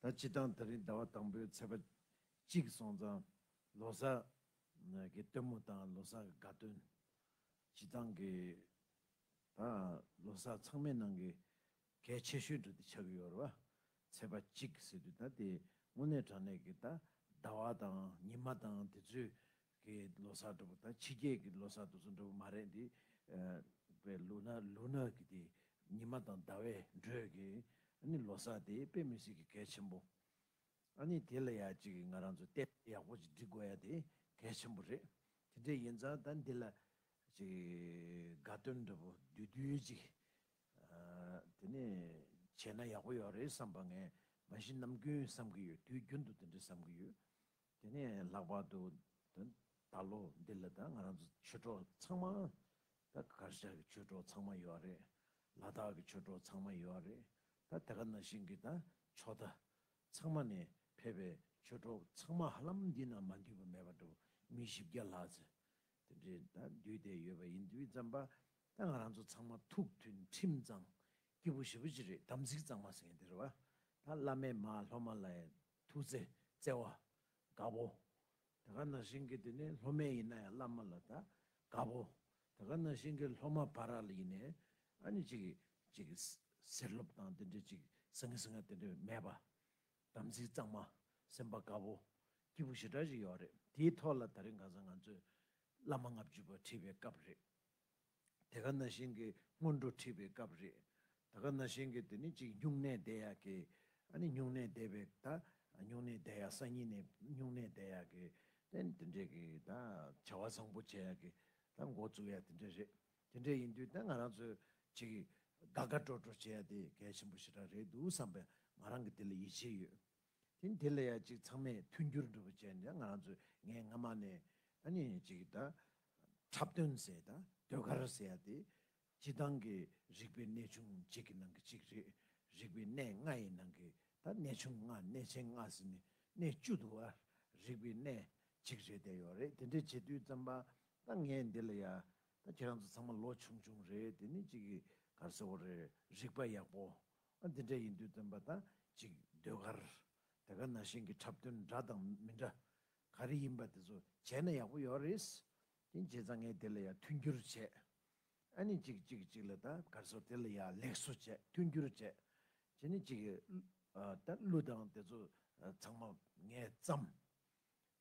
ད་སྤྱི་སྟངས་ད་རིང་ཟླ་བ་དང་པོའི་ཚེས་པ་གཅིག་སོང་ཙང་ལོ་སར་གི་སྟོན་མོ་དང་ལོ་སར་དགའ་སྟོན། སྤྱི་སྟངས་ཀྱི་ད་ལོ་སར་ཚང་མའི་ནང་གི་གལ་ཆེ་ཤོས་འགྲོ་དེ་ཆགས་ཀྱི་ཡོད་རེད་བ། ཚེས་པ་གཅིག་ཟེར་དུས་ད་དེ་དངོས་གནས་དྲང་གནས་ཀྱི་ད་ཟླ་བ་དང་ཉི་མ་དང་དེ་ཚོའི་གི་ལོ་སར་འགྲོ་བ་དང་ཕྱི་རྒྱལ་གྱི་ལོ་སར་དུ་ཚོད་འགྲོ་བ་མ་རེད་འདི། པའི་ལུག་ནག་ལུག་ནག་གི་དེ་ཉི་མ་དང་ཟླ་བའི་འགྲོས་ཀྱི་ཨ་ནི་ལོ་སར་དེ་དཔེ་མི་སྲིད་ཀྱི་གལ་ཆེན་པོ། ཨ་ནི་དེ་ལ་ཡ་གཅིག་གི་ང་རང་ཚོ་དཔེ་ཡག་པོ་ཅིག་འབྲི་དགོས་ཡ་དེ་གལ་ཆེན་པོ་རེད། དེ་འདྲས་ཡིན་ཙང་ད་འདི་ལ། ཅིག་དགའ་སྟོན་འདྲ་པོ་བདུད་བདུད་ཅིག། དེ་ནས་བྱས་ན་ཡག་པོ་ཡོད་རེད་བསམ་པ་ངས་མ་གཞི་ནམ་རྒྱུན་བསམ་གྱི་ཡོད་དུས་རྒྱུན་དུ་དེ་འདྲས་བསམ་གྱི་ཡོད། དེ་ནས་ལྷག་པར་དུ་ད་ལོ་འདི་ལ་ད་ང་རང་ཚོ་ཆོས་གྲོགས་ཚང་མ་ད་གར་ཤག་གི་ཆོས་གྲོགས་ཚང་མ་ཡོད་རེད། ལ་དྭགས་ཀྱི་ཆོས་གྲོགས་ཚང་མ་ཡོད་རེད་ད་དེ་ག་ན་ཞིང་གི་ད་ཕྱོགས་ད་ཚང་མ་ནས་ཕེབས་པའི་ཆོས་གྲོགས་ཚང་མ་ཧ་ལམ་འདི་ན་མ་འདུས་པ་མེད་པ་འདུག་མི་བཞི་བརྒྱ་ལྷག་ཚེ་དེ་འདྲས་ད་འདུས་བསྡད་ཡོད་པ་ཡིན་དུས་ཙམ་པ་ད་ང་རང་ཚོ་ཚང་མ་ཐུགས་མཐུན་ཁྲིམས་གཙང་སྐྱིད་པོ་ཞི་བོ་ཅི་རེད་དམ་ཚིག་གཙང་མ་ཟེར་མཁན་དེ་རེད་བ། ད་བླ་མའི་མ་སློབ་མ་ལ་ཡང་ཐུགས་བརྩེ་བརྩེ་བ་དགའ་བོ། ད་ག་ན་ཤིང་གི་དེ་ནི་སློབ་མའི་ཡིན་ན་ཡང་བླ་མ་ལ་ད་ག་བོ། ད་ག་ན་ཤིང་གི་སློབ་མ་བ་ར་ལ་ཡིན་ནས་ཨ་ནི་ཅིག་ཅིག་ཟེར་སློབ་དང་དེ་འདྲ་ཅིག་སེང་གེ་སེང་གེ་དེ་འདྲ་མེད་པ། དམ་ཚིག་གཙང་མ་སེམས་པ་དགའ་བོ། སྐྱིད་པོ་ཞེ་དྲག་ཅིག་ཡོད་རེད་དེའི་ཐོག་ལ་ད་རིང་གང་ཟག་ང་ཚོས་བླ་མ་ལྔ་བཅུ་པ་ཁྲིད་པའི་སྐབས་རེད། དེ་ག་ན་བཞིན་གྱི་སྔོན་འགྲོ་ཁྲིད་པའི་སྐབས་རེད། ད་ག་ན་བཞིན་གྱི་དེ་ནི་གཅིག་སྨྱུང་གནས་བསྡད་ཡག་གི། ཨ་ནི་སྨྱུང་གནས་བསྡད་པའི་ད་སྨྱུང་གནས་བསྡད་ཡག་སང་ཉིན་ནས་སྨྱུང་གནས་བསྡད་ཡག་གི། དེ་ནི་དེ་འདྲས་གི་ད་བྱ་བ་བཟང་པོ་བྱས་ཡག་གི། ད་མགོ་བཙུགས་ཡག་དེ་འདྲས་རེད། དེ་འདྲས་ཡིན་དུས་ད་ང་རང་ཚོས་གཅིག་དགའ་དགའ་སྤྲོ་སྤྲོ་བྱས་ཡག་དེ་གལ་ཆེན་པོ་ཞེ་དྲགས་རེད་འདུག་བསམ་པས་ང་རང་གི་དེ་ལ་ཡིད་ཆེས་ཡོད། དེ་འདི་ལ་ཡ་གཅིག་ཚང་མས་མཐུན་འགྱུར་འགྲུབ་པ་བྱས་ནས་ང་རང་ཚོས་ངས་སྔ་མ་ནས་ཨ་ནི་གཅིག་ད་འཁྲབ་སྟོན་ཟེར་ད་ཟློས་གར་ཟེར་ཡ་དེ་སྤྱི་བཏང་གི་རིག་པའི་གནས་ཆུང་གཅིག་གི་ནང་གི་གཅིག་རེད་རིག་པའི་གནས་ལྔ་ཡི་ནང་གི་ད་གནས་ཆུང་ལྔ་གནས་ཆེན་ལྔ་ཟེར་ནས་གནས་བཅུ་འདུག་ཨ་རིག་པའི་གནས་གཅིག་རེད་དེ་ཡོད་རེད་དེ་འདྲས་བྱེད་དུས་བརྩམས་པ་ད་ངས་འདི་ལ་ཡ་ད་ཁྱེད་རང་ཚོ་ཚང་མ་ལོ་ཆུང་ཆུང་རེད་དེ་ནི་གཅིག་གི་གར་སོ་བོ་རེད་རིག་པ་ཡག་པོ་ཨ་འདི་འདྲ་ཡིན་དུས་སྟོན་པ་དང་ཅིག་ཟློས་གར་དེ་ག་ན་ཞིང་གི་འཁྲབ་སྟོན་འདྲ་དང་མི་འདྲ་ག་རེ་ཡིན་པ་དེ་ཚོ་བྱས་ན་ཡག་པོ་ཡོད་རེད། དེ་རྗེས་ད་ངས་དེ་ལ་ཡང་མཐུན་འགྱུར་བྱས། ཨ་ནི་ཅིག་ཅིག་ཅིག་ལ་ད་གར་སོ་དེ་ལ་ཡང་ལེགས་སོ་བྱས་མཐུན་འགྱུར་བྱས། བྱས་ནས་ཅིག་ད་གླུ་དང་དེ་ཚོ་ཚང་མ་ངས་བརྩམས།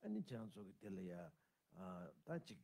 ཨ་ནི་བྱས་ཡང་ཚོགས་ཀྱི་དེ་ལ་ཡང་ད་ཅིག།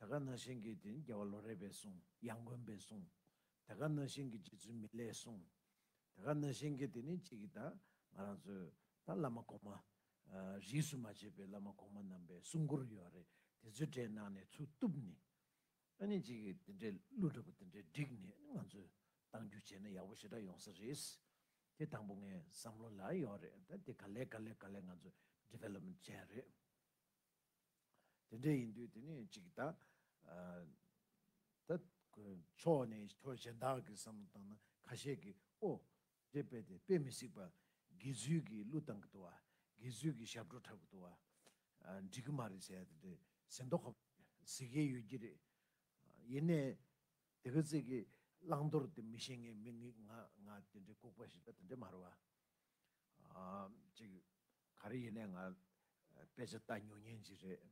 དེ་ག་ན་བཞིན་གྱི་དེ་རྒྱལ་བ་ལོ་རས་པས་གསུང་ཡང་མགོན་པས་གསུང། དེ་ག་ན་བཞིན་གྱི་རྗེ་བཙུན་མི་ལས་གསུང། དེ་ག་ན་བཞིན་གྱི་དེ་ནི་གཅིག་གིས་ད་ང་རང་ཚོས་ད་བླ་མ་གོང་མ། རིས་སུ་མ་ཆད་པའི་བླ་མ་གོང་མ་རྣམས་པའི་གསུང་མགུར་ཡོད་རེད་དེ་ཚོའི་གྲས་ནང་ནས་ཚུར་གཏུབ་ནས། ཨ་ནི་གཅིག་གིས་དེ་འདྲའི་གླུ་འདྲ་པོ་དེ་འདྲའི་བསྒྲིགས་ནས་ང་ཚོས་བཏང་རྒྱུ་བྱས་ན་ཡག་པོ་ཞེ་དྲག་ཡོང་ས་རེད། དེ་དང་པོ་ངའི་བསམ་བློ་ལ་ཡོད་རེད་ད་དེ་ག་ལས་ག་ལས་ག་ལས་ང་ཚོས development བྱས་རེད། དེ་འདྲ་ཡིན་དུས་དེ་ནི་གཅིག་ད། ད། ཕྱོགས་ནས་ཁྱོ་གཞན་དག་གི་བསམ་བློ་བཏང་ན་ཁ་ཤས་ཀྱིས་ཨོ། འདྲེ་དཔེ་དེ་དཔེ་མི་སྲིད་པ། དགེ་ཚུལ་གྱིས་གླུ་བཏང་གི་འདུག་བ། དགེ་ཚུལ་གྱིས་ཞབས་བྲོ་འཁྲབ་གི་འདུག་བ། འགྲིག་གི་མ་རེད་ཟེར་ཡ་དེ་འདྲས་ཟིན་ཏོ། ཟེར་གྱི་ཡོད་ཀྱི་རེད། ཡིན་ནས། དེ་ག་ཚིག་གི་བླང་དོར་དེ་མི་ཤེས་ངེས་མི་ངེས་ང་ང་དེ་འདྲའི་ལྐུགས་པ་ཞིག་ད་དེ་འདྲས་མ་རེད་བ། གཅིག། ག་རེ་ཡིན་ནའི་ང། དཔེ་ཆ་ལྟ་ཉུང་ངན་གྱི་རེད།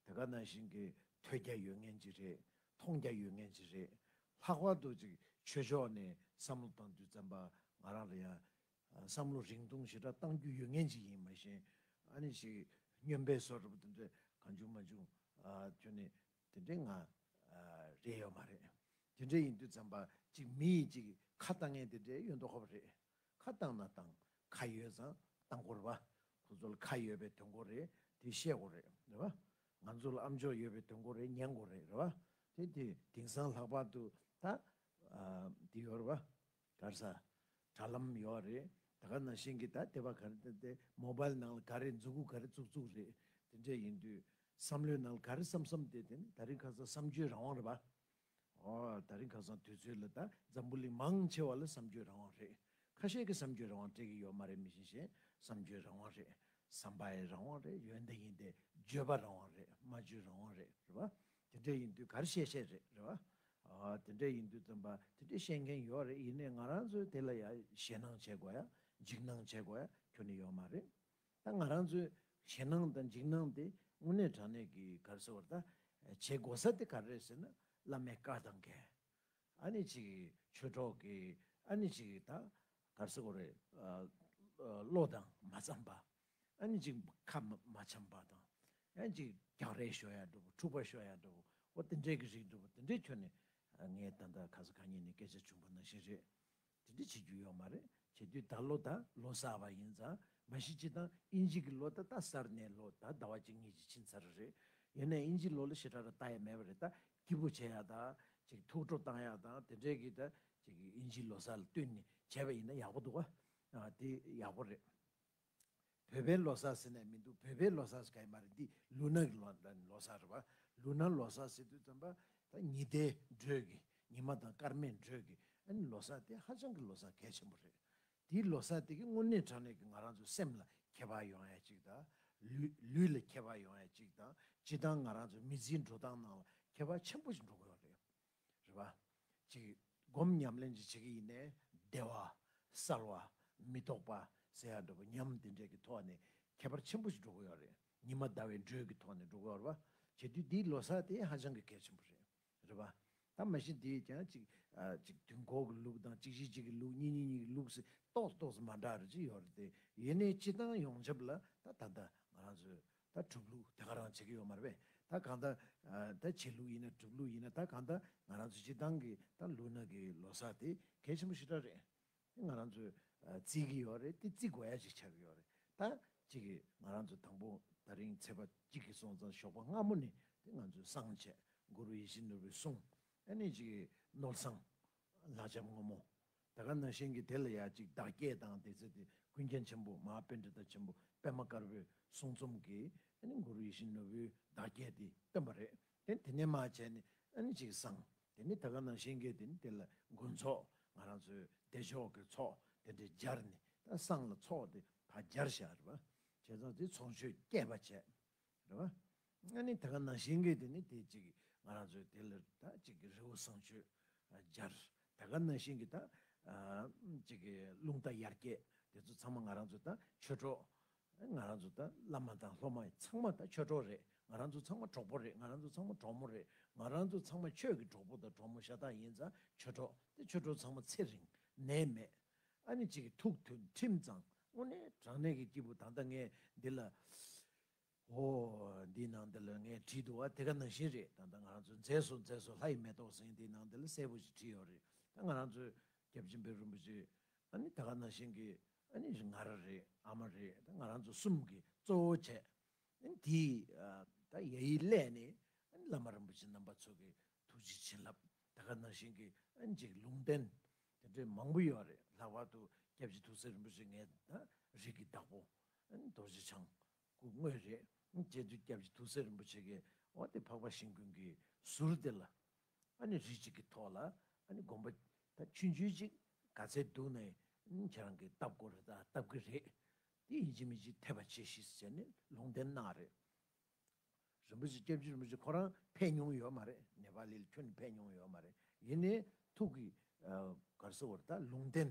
དེ་ག་ནང་བཞིན་གྱི་ཐོས་རྒྱ་ཡོད་ངན་གྱི་རེད། མཐོང་རྒྱ་ཡོད་ངན་གྱི་རེད། ལྷག་པར་དུ་ཅིག་ཆོས་ཕྱོགས་ནས་བསམ་བློ་བཏང་དུས་བཙན་པ་ང་རང་ལ་ཡང། བསམ་བློ་རིང་ཐུང་ཞེ་དྲག་བཏང་རྒྱུ་ཡོད་ངན་གྱི་ཡིན་མ་གཞན། ཨ་ནི་ཞིག་སྨྱོན་པའི་སོ་ར་པོ་དེ་འདྲ་གང་བྱུང་མ་བྱུང། ཁྱོད་ནི་དེ་འདྲའི་ང། རེད་ཡོད་མ་རེད། དེ་འདྲ་ཡིན་དུས་བཙན་པ་ཅིག་མི་ཡིས་ཅིག་ཁ་བཏང་ངན་དེ་འདྲའི་ཡོད་མདོག་ཁོ་པ་རེད། ཁ་བཏང་ན་བཏང། ཁ་ཡོད་ཙང་བཏང་གོ་རེད་བ། ཁོ་ཚོ་ལ་ཁ་ཡོད་པའི་དོན་གོ་རེད། དེ་ཤེས་གོ་རེད་རེད་བ། ང་ཚོ་ལ་ཨམ་ཆོག་ཡོད་པའི་དོན་གོ་རེད་ཉན་གོ་རེད་རེད་བ། དེ་དེ་དེང་སང་ལྷག་པར་དུ་ད། དེ་ཡོད་རེད་བ། གར་ས། དྲ་ལམ་ཡོད་བ་རེད། ད་ག་ནང་བཞིན་གྱི་ད་དེ་བ་ག་རེ་ད་དེ Mobile ནང་ལ་ག་རེ་འཛུགས་དགོས་ག་རེ་འཛུགས་འཛུགས་རེད། དེ་འདྲས་ཡིན་དུས། བསམ་བློའི་ནང་ལ་ག་རེ་བསམ་བསམ་དེ་དེ་ནི་ད་རིང་ཁ་ས་བསམ་བརྗོད་རང་དབང་རེད་བ། ད་རིང་ཁ་སང་དུས་ཚོད་ལ་ད་འཛམ་བུ་གླིང་མང་ཆེ་བ་ལ་བསམ་བརྗོད་རང་དབང་རེད། ཁ་ཤས་ཀྱི་བསམ་བརྗོད་རང་དབང་སྤྲད་ཀྱི་ཡོད་མ་རེད་མི་གཞན་གཞན་བསམ་བརྗོད་རང་དབང་རེད། བསམ་པའི་རང་དབང་རེད་ཡོད་འདི་ཡིན་དེ་བརྗོད་པ་རང་དབང་རེད་མ་བརྗོད་རང་དབང་རེད་རེད་པ། དེ་འདྲས་ཡིན་དུས་ག་རེ་བཤད་བཤད་རེད་རེད་པ། དེ་འདྲས་ཡིན་དུས་རྩམ་པ་དེ་འདྲས་བཤད་མཁན་ཡོད་རེད་ཡིན་ནས་ང་རང་ཚོས་དེ་ལ་ཡ་ཞེད་སྣང་བྱེད་དགོས་ཡ་འཇིགས་སྣང་བྱེད་དགོས་ཡ་ཁྱོ་ནི་ཡོད་མ་རེད། ད་ང་རང་ཚོས་ཞེད་སྣང་དང་འཇིགས་སྣང་དེ་དངོས་གནས་དྲང་གནས་ཀྱི་གར་ཟེར་བར་ད་བྱེད་དགོ་ས་དེ་ག་རེད་ཟེར་ན་བླ་མའི་བཀའ་དང་འགལ། ཨ་ནི་ཅིག་ཆོས་གྲོགས་ཀྱི་ཨ་ནི་ཅིག་ད་གར་ཟེར་གོ་རེད། བློ་དང་མ་འཚམས་པ། ཨ་ནི་ཅིག་ཁ་མ་འཆམས་པ་དང། ཨ་ནི་ཅིག་རྒྱག་རེས་ཞོ་ཡ་འགྲོ་བོ་འཁྲུག་པ་ཞོ་ཡ་འགྲོ་བོ་འོ་དེ་འདྲས་ཀྱི་རིགས་འགྲོ་བོ་དེ་འདྲས་ཁྱོད་ནི་ངའི་ད་ད་ག་ས་ག་ཉིན་ནས་སྐད་ཆ་བྱུང་པ་ནང་བཞིན་རེད། དེ་འདྲ་བྱེད་རྒྱུ་ཡོག་མ་རེད་བྱེད་དུས་ད་ལོ་ད་ལོ་གསར་བ་ཡིན་ཙང་མ་གཞི་སྤྱི་དང་དབྱིན་ཇི་གི་ལོ་ད་ད་གསར་ནའི་ལོ་ད་ཟླ་བ་གཅིག་གཉིས་ཀྱི་ཕྱིན་ཚར་རེད་ཡོད་ནའི་དབྱིན་ཇི་ལོ་ལ་ཞེ་དྲག་ར་ལྟ་ཡ་མེད་པ་རེད་ད་སྐྱིད་པོ་བྱེད་ཡ་ད་ཅིག་ཐུགས་སྤྲོ་བཏང་ཡ་ད་དེ་འདྲའི་གི་ད་ཅིག་དབྱིན་ཇི་ལོ་གསར་ལ་བསྟུན་ནས་བྱས་པ་ཡིན་ན་ཡག་པོ་འདུག་ཨ་དེ་ཡག་པོ་རེད། བོད་པའི་ལོ་སར་ཟེར་ནས་མི་འདུག་བོད་པའི་ལོ་སར་ཟེར་ག་ཡི་མ་རེད་འདི་ལུ་ནག་གི་ལོ་སར་རེད་བ། ལུ་ནག་ལོ་སར་ཟེར་དུས་ཙམ་པ་ད་ཉི་ཟླའི་འགྲོས་ཀྱི་ཉི་མ་དང་སྐར་མའི་འགྲོས་ཀྱི་ཨ་ནི་ལོ་སར་དེ་ཧ་ཅང་གི་ལོ་སར་གལ་ཆེན་པོ་རེད། དེའི་ལོ་སར་དེ་གི་དངོས་གནས་དྲང་གནས་ཀྱི་ང་རང་ཚོའི་སེམས་ལ་ཁྱད་པར་ཡོང་ཡ་གཅིག་དང། ལུས་ལ་ཁྱད་པར་ཡོང་ཡ་གཅིག་དང་སྤྱི་བཏང་ང་རང་ཚོའི་མི་ཚེའི་འགྲོ་སྟངས་ནང་ལ་ཁྱད་པར་ཆེན་པོ་ཞིག་འགྲོ་གི་ཡོད་རེད། རེ་བ། ཅིག། སྒོམ་ཉམས་ལེན་ཅིག་བྱེད་ཀྱི་ཡིན། བདེ་བ། གསལ་བ། མི་རྟོག་པ། ཟེར་ཡག་འགྲོ་བ་ཉམས་དེ་འདྲས་ཀྱི་ཐོག་ནས་ཁྱད་པར་ཆེན་པོ་ཞིག་འགྲོ་དགོས་ཡག་རེད་ཉི་མ་ཟླ་བའི་འགྲོས་ཀྱི་ཐོག་ནས་འགྲོ་དགོས་ཡག་རེད་པ། བྱེད་དུས་འདིའི་ལོ་སར་དེ་ཧ་ཅང་གི་གལ་ཆེན་པོ་རེད། རེ་བ། ད་མ་གཞི་འདིས་ཀྱང་ཅིག། ཅིག་དུས་འཁོར་གྱི་ལུགས་དང་ཅིག་གཞི་གཅིག་གི་ལུགས་གཉིས་གཉིས་གཉིས་ཀྱི་ལུགས་སུ་རྟོགས་སུ་རྟོགས་སུ་མ་འདྲ་རེ་ཅིག་ཡོད་རེད་དེ། ཡེ་ནས་སྤྱི་བཏང་ཡོངས་ཁྱབ་ལ་ད་ད་ལྟ་ང་རང་ཚོས་ད་གྲུབ་ལུགས་དེ་ག་རང་བྱེད་ཀྱི་ཡོད་མ་རེད་བས་ད་གང་ད། ད་བྱེད་ལུགས་ཡིན་ན་གྲུབ་ལུགས་ཡིན་ན་ད་གང་ད་ང་རང་ཚོའི་སྤྱི་བཏང་གི་ད་ལུགས་ནང་གི་ལོ་སར་དེ་གལ་ཆེན་པོ་ཞིག་ད་རེད། དེ་ང་རང་ཚོས་བརྩི་གི་ཡོད་རེད་དེ་བརྩི་དགོས་ཡ་ཞིག་ཆགས་ཀྱི་ཡོད་རེད་ད། གཅིག་གིས་ང་རང་ཚོ་དང་པོ་ད་རིང་ཚེས་པ་གཅིག་གིས་སོང་ཙང་ཞོགས་པ་སྔ་མོ་ནས་དེ་ང་ཚོས་བསང་བྱས་མགོ་རུ་ཡེ་ཤེས་ནོར་བུའི་གསུང། ཨ་ནེ་གཅིག་གིས་ནོར་བསང། ལག་འཇམ་སྔོན་མོ། ད་ག་ན་གཤེན་གྱིས་དེ་ལ་ཡང་ཅིག་བདག་བསྐྱེད་དང་དེ་ཚེ་དེ་ཀུན་མཁྱེན་ཆེན་པོ་མ་དཔལ་འབྲི་ཏ་ཆེན་པོ་པདྨ་དཀར་པོའི་གསུང་རྩོམ་གྱིས་གུ་རུ་ཡིད་བཞིན་ནོར་བུའི་བདག་བསྐྱེད་དེ་སྟོན་པ་རེད་དེ་དེ་ནས་མ་བྱས་ནས་ཅིག་བསང་དེ་ནས་ད་ག་ན་གཤེན་གྱིས་དེ་ནས་དེ་ལ་མགོན་ཚོགས་ང་རང་ཚོའི་བདེ་མཆོག་གི་ཚོགས་དེ་འདྲས་སྦྱར་ནས་ད་བསང་ལ་ཚོགས་དེ་ད་སྦྱར་བྱ་རེད་བྱས་ཙང་དེ་ཚོགས་མཆོད་བསྐྱེད་པ་བྱས་རེད་བ། ང་ནི་ད་ག་ནང་བཞིན་གྱི་དེ་ནི་དེ་ཅིག་ང་རང་ཚོའི་དེ་ལ་ད་ཅིག་གི་རི་བོ་བཟང་སྤྱོད་སྦྱར། ད་ག་ནང་བཞིན་གྱི་ད་ཅིག་གི་རླུང་རྟ་ཡར་སྐྱེད་དེ་ཚོ་ཚང་མ་ང་རང་ཚོའི་ད་ཆོས་གྲོགས། ང་རང་ཚོའི་ད་བླ་མ་དང་སློབ་མ་ཚང་མ་ད་ཆོས་གྲོགས་རེད་ང་རང་ཚོ་ཚང་མ་གྲོགས་པོ་རེད་ང་རང་ཚོ་ཚང་མ་གྲོགས་མོ་རེད་ང་རང་ཚོ་ཚང་མ་ཆོས་ཀྱི་གྲོགས་པོ་དང་གྲོགས་མོ་ཤ་སྟག་ཡིན་ད་ཆོས་གྲོགས་དེ་ཆོས་གྲོགས་ཚང་མ་ཚེ་རིང་ནད་མེད་ཨ་ནི་ཅིག་གི་ཐུགས་མཐུན་ཁྲིམས་གཙང་དངོས་གནས་དྲང་གནས་ཀྱི་སྐྱེས་བུ་ད་ལྟ་ངས་འདི་ལ། ཨོ། འདི་ནང་འདི་ལ་ངས་བྲིས་འདུག་བ་དེ་ག་ནང་བཞིན་རེད་ད་ལྟ་ང་རང་ཚོའི་མཛེས་སོ་མཛེས་སོ་ལྷ་ཡི་མེ་ཏོག་ཟིན་དེའི་ནང་འདི་ལ་གསལ་པོ་ཞིག་བྲིས་ཡོད་རེད་ད་ང་རང་ཚོའི་སྐྱབས་ཆེན་པོའི་རིན་པོ་ཆེ་ཨ་ནི་ད་ག་ནང་བཞིན་གྱི་ཨ་ནི་ང་ར་རེད་ཨ་མ་རེད་ད་ང་རང་ཚོ་གསུམ་གྱི་གཙོ་བོ་བྱས་ཨ་ནི་དེའི་ད་ཡ་ཡི་སླད་ནས་ཨ་ནི་བླ་མ་རིན་པོ་ཆེ་རྣམ་པ་ཚོ་གི་ཐུགས་རྗེ་བྱིན་རླབས་ད་ག་ནང་བཞིན་གྱི་ཨ་ནི་ཅིག་ལུང་བསྟན་དེ་འདྲའི་མང་པོ་ཡོད་རེད་ལྷག་པར་དུ་སྐྱབས་ཆེན་ཐུགས་སྲས་རིན་པོ་ཆེ་ངའི་རིགས་ཀྱི་བདག་པོ་རྡོ་རྗེ་འཆང། སྐུ་དངོས་རེད། རྒྱལ་དུས་སྐྱབས་རྗེ་ཐུགས་སྲས་རིན་པོ་ཆེ་ཀའི་བ་སྟེ་འཕགས་པ་ཞིང་ཀུན་གྱི་ཟུར་དེ་ལ། རིགས་གཅིག་གི་ཐོག་ལ་དགོངས་པ། ད་ཆུ་འཇུས་ཅིག་ག་ཚད་འདུག་ནས་ཁྱེད་རང་གིས་བཏབ་སྐོར་བཏབ་ཀྱི་རེད། དེ་ཡིན་གཅིག་མིན་གཅིག་འཐད་པ་བྱས་ཤིས་བྱས་ནས་ལུང་བསྟན་གནང་རེད། རིན་པོ་ཆེ་སྐྱབས་རྗེ་རིན་པོ་ཆེ་ཁོ་རང་ཕེབས་མྱོང་ཡོད་མ་རེད་ནེ་པ་ལི་ལ་ཁྱོན་ནས་ཕེབས་མྱོང་ཡོད་མ་རེད་ཡིན་ནས་ཐུགས་ཀྱི་གར་སོ་བར་ད་ལུང་བསྟན།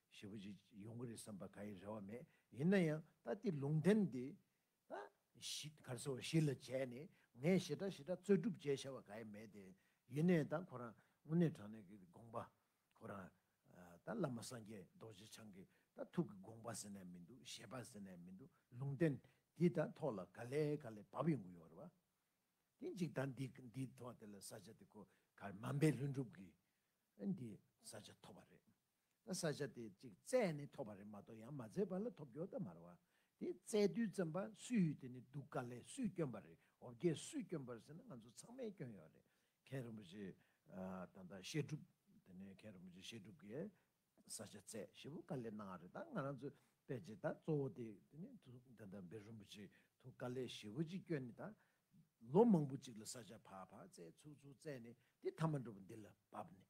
ཞེ་པོ་ཅིག་ཡོང་གི་རེད་བསམ་པ་ག་ཡི་རེ་བ་མེད་ཡིན་ན་ཡང་ད་ལྟའི་ལུང་བསྟན་འདི་གར་སོ་བཞི་ལ་བྱས་ནས་ངས་ཞེ་དྲག་ཞེ་དྲག་རྩོད་སྒྲུབ་བྱས་བྱ་བ་ག་ཡི་མེད་དེ་ཡེ་ནས་ད་ཁོ་རང་དངོས་གནས་དྲང་གནས་ཀྱི་དགོངས་པ་ཁོ་རང་ད་བླ་མ་སངས་རྒྱས་རྡོ་རྗེ་འཆང་གི་ད་ཐུགས་ཀྱི་དགོངས་པ་ཟེར་ནས་མི་འདུག་བཞེད་པ་ཟེར་ནས་མི་འདུག་ལུང་བསྟན་འདི་ད་ཐོག་ལ་ག་ལེ་ག་ལེ་བབས་ཡོང་གི་ཡོད་རེད་བ། དེ་གཅིག་ད་འདི་འདི་ཐོག་དེ་ལ་ས་ཆ་དེ་ཁོ་གར་མ་འབད་ལྷུན་གྲུབ་ཀྱིས་འདི་ས་ཆ་ཐོབ་པ་རེད། ན་ས་ཆ་དེ་གཅིག་བཙལ་ནས་ཐོབ་པ་རེད་མ་གཏོགས་ཡང་མ་བཙལ་བ་ལ་ཐོབ་རྒྱོ་ད་མ་རེད་བ། དེ་བཙལ་དུས་བཙན་པ་སུས་ཡོད་དེ་ནི་སྡུག་ག་ལས་སུས་སྐྱོན་པ་རེད་འོ་བརྒྱད་སུས་སྐྱོན་པར་ཟེར་ན་ང་ཚོ་ཚང་མའི་སྐྱོན་ཡོད་རེད་མཁན་རིན་པོ་ཆེ་ད་ལྟ་བཤད་སྒྲུབ་དེ་ནས་མཁན་རིན་པོ་ཆེ་བཤད་སྒྲུབ་ཀྱི་ས་ཆ་བཙལ་ཞེ་པོ་ག་ལས་གནང་བ་རེད་ད་ང་རང་ཚོས་བལྟས་རྗེས་ད་གཙོ་བོ་དེ་དེ་ནི་ད་ད་འབེ་རིན་པོ་ཆེ་ཐུགས་ག་ལས་ཞེ་པོ་ཅིག་སྐྱོན་ནི་ད་ལོ་མང་པོ་ཅིག་ལ་ས་ཆ་བག་བག་བཙལ་ཚུགས་ཚུགས་བཙལ་ནས་དེ་མཐའ་མ་འགྲོ་བ་འདི་ལ་བབས་ནས་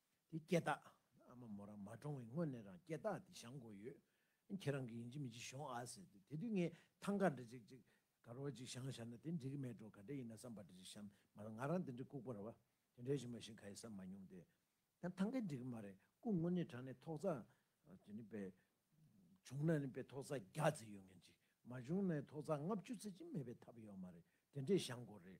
དེ་སྐད་བཏགས། ཨ་མ་མོ་རང་མ་གྲོངས་བའི་སྔོན་ནས་རང་སྐད་བཏགས་དེ་བཞག་འགོ་ཡོད། ཁྱེད་རང་གིས་ཡིན་གཅིག་མིན་གཅིག་ཤོང་ཨ་ཟེར་ཏེ་དེ་དུས་ངས་ཐང་ག་འདྲ་ཅིག་ཅིག། ག་རོག་ཅིག་བཞག་བཞག་ན་དེ་འགྲིག་གི་མེད་འགྲོ་ག་འདྲ་ཡིན་ན་བསམ་པ་འདྲ་ཅིག་བཞག་མ་རང་ང་རང་དེ་འདྲའི་ལྐུགས་པ་ར་བ་དེ་འདྲའི་ཞིག་མ་ཞིག་ག་ཡིན་བསམ་མ་མྱོང་སྟེ། ཡང་ཐང་ག་འགྲིག་གི་མ་རེད་སྐུ་དངོས་ནས་དྲངས་ནས་ཐོག་རྩ། དེ་ནི་པའི། བྱུང་ན་ནི་པའི་ཐོག་རྩ་བརྒྱ་རྩི་ཡོད་ངེས་ཅིག་མ་བྱུང་ན་ཐོག་རྩ་ལྔ་བཅུ་རྩི་གཅིག་མེད་པའི་ཐབས་ཡོད་མ་རེད་དེ་འདྲས་བཞག་འགོ་རེད།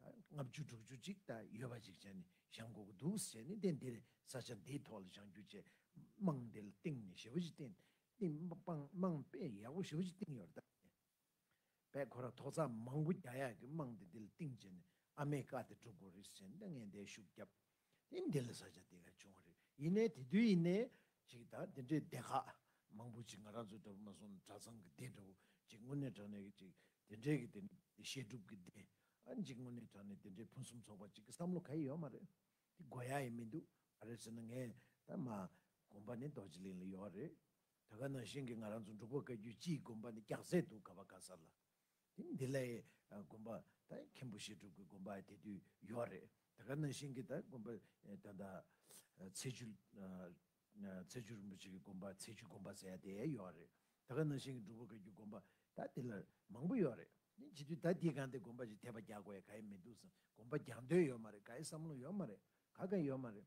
ད་ལྔ་བཅུ་དྲུག་ཅུ་གཅིག་ད་ཡོད་པ་ཅིག་བྱས་ནས་བཞེངས་དགོས་ཀྱི་འདུག་ཟེར་ནས་དེ་འདིར་ས་ཆ་འདིའི་ཐོག་ལ་བཞེངས་རྒྱུ་བཅས་དམངས་འདི་ལ་བཏིང་ནས་ཞི་བ་ཅིག་བཏིང། དམངས་དཔེ་ཡག་པོ་ཞི་བ་ཅིག་བཏིང་ཡོད་རེད་ད། བས་ཁོ་རང་ཐོག་རྩག་མང་པོ་རྒྱག་ཡག་གི་དམངས་འདི་འདི་ལ་བཏིང་བྱས་ནས་ཨ་མའི་བཀའ་དེ་སྒྲུབ་དགོས་རེད་ཟེར་ནས་ད་ངས་འདའི་ཤུགས་བརྒྱབས། ཨིན། དེ་ལས་ས་ཆ་དེ་གར་བྱུང་བ་རེད། ཡིན་ནའི་དེ་དུས་ཡིན་ནའི། ཅིག་དང་དེ་འདྲའི་སྡེ་ཁག། མང་པོ་ཅིག་ང་རང་ཚོའི་འདྲ་པོ་མ་སོང་གྲྭ་ཚང་གི་སྡེ་འདྲ་བོ། ཅིག་དངོས་གནས་དྲང་གནས་ཀྱི་ཅིག་དེ་འདྲའི་གི་དེ། བཤད་སྒྲུབ་ཀྱི་སྡེ། ཨང་ཅིག་དངོས་གནས་དྲང་གནས་དེ་འདྲའི་ཕུན་སུམ་ཚོགས་པ་ཅིག་གི་བསམ་བློ་ག་ཡི་ཡོད་མ་རེད། དེ་དགོས་ཡ་ཡི་མི་འདུག་ག་རེད་ཟེར་ན་ངས་ད་མ། དགོངས་པ་ནི་རྡོ་རྗེ་གླིང་ལ་ཡོད་རེད། ད་ག་ནང་བཞིན་གྱི་ང་རང་ཚོ་འབྲུག་པ་བཀའ་རྒྱུད་སྤྱིའི་དགོངས་པ་ནི་སྐྱག་ཟས་འདུག་ག་བ་ག་ས་ལ། དེ་འདི་ལ་ཡི་དགོན་པ་དང་མཁན་པོ་བཤད་སྒྲུབ་ཀྱི་དགོན་པ་དེ་དུས་ཡོད་རེད་ད་ག་ནང་བཞིན་གྱི་དང་དགོན་པ་ད་ལྟ་ཚེ་ཆུ་ཚེ་ཆུ་རིན་པོ་ཆེ་གྱི་དགོན་པ་ཚེ་ཆུ་དགོན་པ་ཟེར་ཡ་དེ་ཡོད་རེད་ད་ག་ནང་བཞིན་གྱི་སྒྲུབ་པ་ག་གྱུ་དགོན་པ་ད་དེ་ལ་མང་པོ་ཡོད་རེད་དེ་བྱེད་དུས་ད་དེའི་གང་དེ་དགོན་པ་ཞིག་དེད་པ་རྒྱག་དགོས་ཡ་ག་ཡི་མི་འདུག་བསམ་དགོན་པ་རྒྱག་འདོད་ཡོད་མ་རེད་ག་ཡི་བསམ་བློ་ཡོད་མ་རེད་ག་ག་ཡོད་མ་རེད།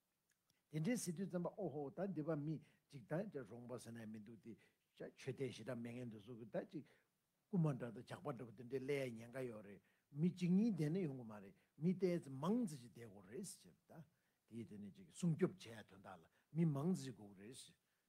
དེ་འདྲའི་ཟེར་དུས་བཙན་པ་ཨོ་ཧོ་ད་འདི་པ་མི་གཅིག་ད་ཅག་རོང་པ་ཟེར་ན་མི་འདུག་སྟེ། ཤ་ཆོས་ལྡན་ཞེ་དྲག་མི་ངན་འདུག་བཟོ་གི་ད་ཅིག། རྐུན་མ་འདྲ་དང་ཇག་པ་འདྲ་བོ་དེ་འདྲའི་ཀླད་ཡ་ཉན་ཀ་ཡོད་རེད། མི་གཅིག་གཉིས་བསྡད་ན་ཡོང་གི་མ་རེད་མི་བསྡད་ཚེ་མང་ཙེ་ཞིག་བསྡད་དགོས་རེད་ཟེར། དེའི་དོན་ནི་ཅིག་སྲུང་སྐྱོབ་བྱེད་ཡ་དོན་དག་ལ་མི་མང་ཙེ་ཞིག་དགོས་ཀི་རེད།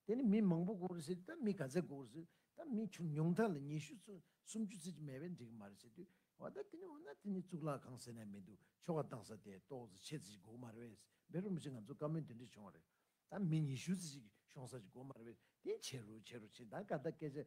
དེ་ནི་མི་མང་པོ་སྒུག་རེ་ཟེར་དུས་ད་མི་ག་ཚད་སྒུག་རེ་ཟེར་ད་མི་ཆུང་ཉུང་དག་ལ་ཉི་ཤུ་ཚོ་སུམ་ཅུ་ཚོ་གཅིག་མེད་པས་འགྲིག་གི་མ་རེད་ཟེར་དུས་བ་ད་དེ་ནི་འོ་ན་དེ་ནི་གཙུག་ལག་ཁང་ཟེར་ན་མི་འདུག་ཆོ་ག་བཏང་ས་དེ་ཏོག་ཙེ་ཕྱེད་ཙེ་ཅིག་སྒུག་མ་རེད་བས་བེ་རུ་མི་ཆེ་ང་ཚོ་བཀའ་མོལ་འདི་འདྲ་བྱུང་བ་རེད་ད་མི་ཉི་ཤུ་ཚོ་ཅིག་ཤོང་ས་ཅིག་སྒུག་མ་རེད་བས་དེ་བྱེད་རུ་བྱེད་རུ་ཕྱིན་ད་ག་ད་སྐད་ཆ་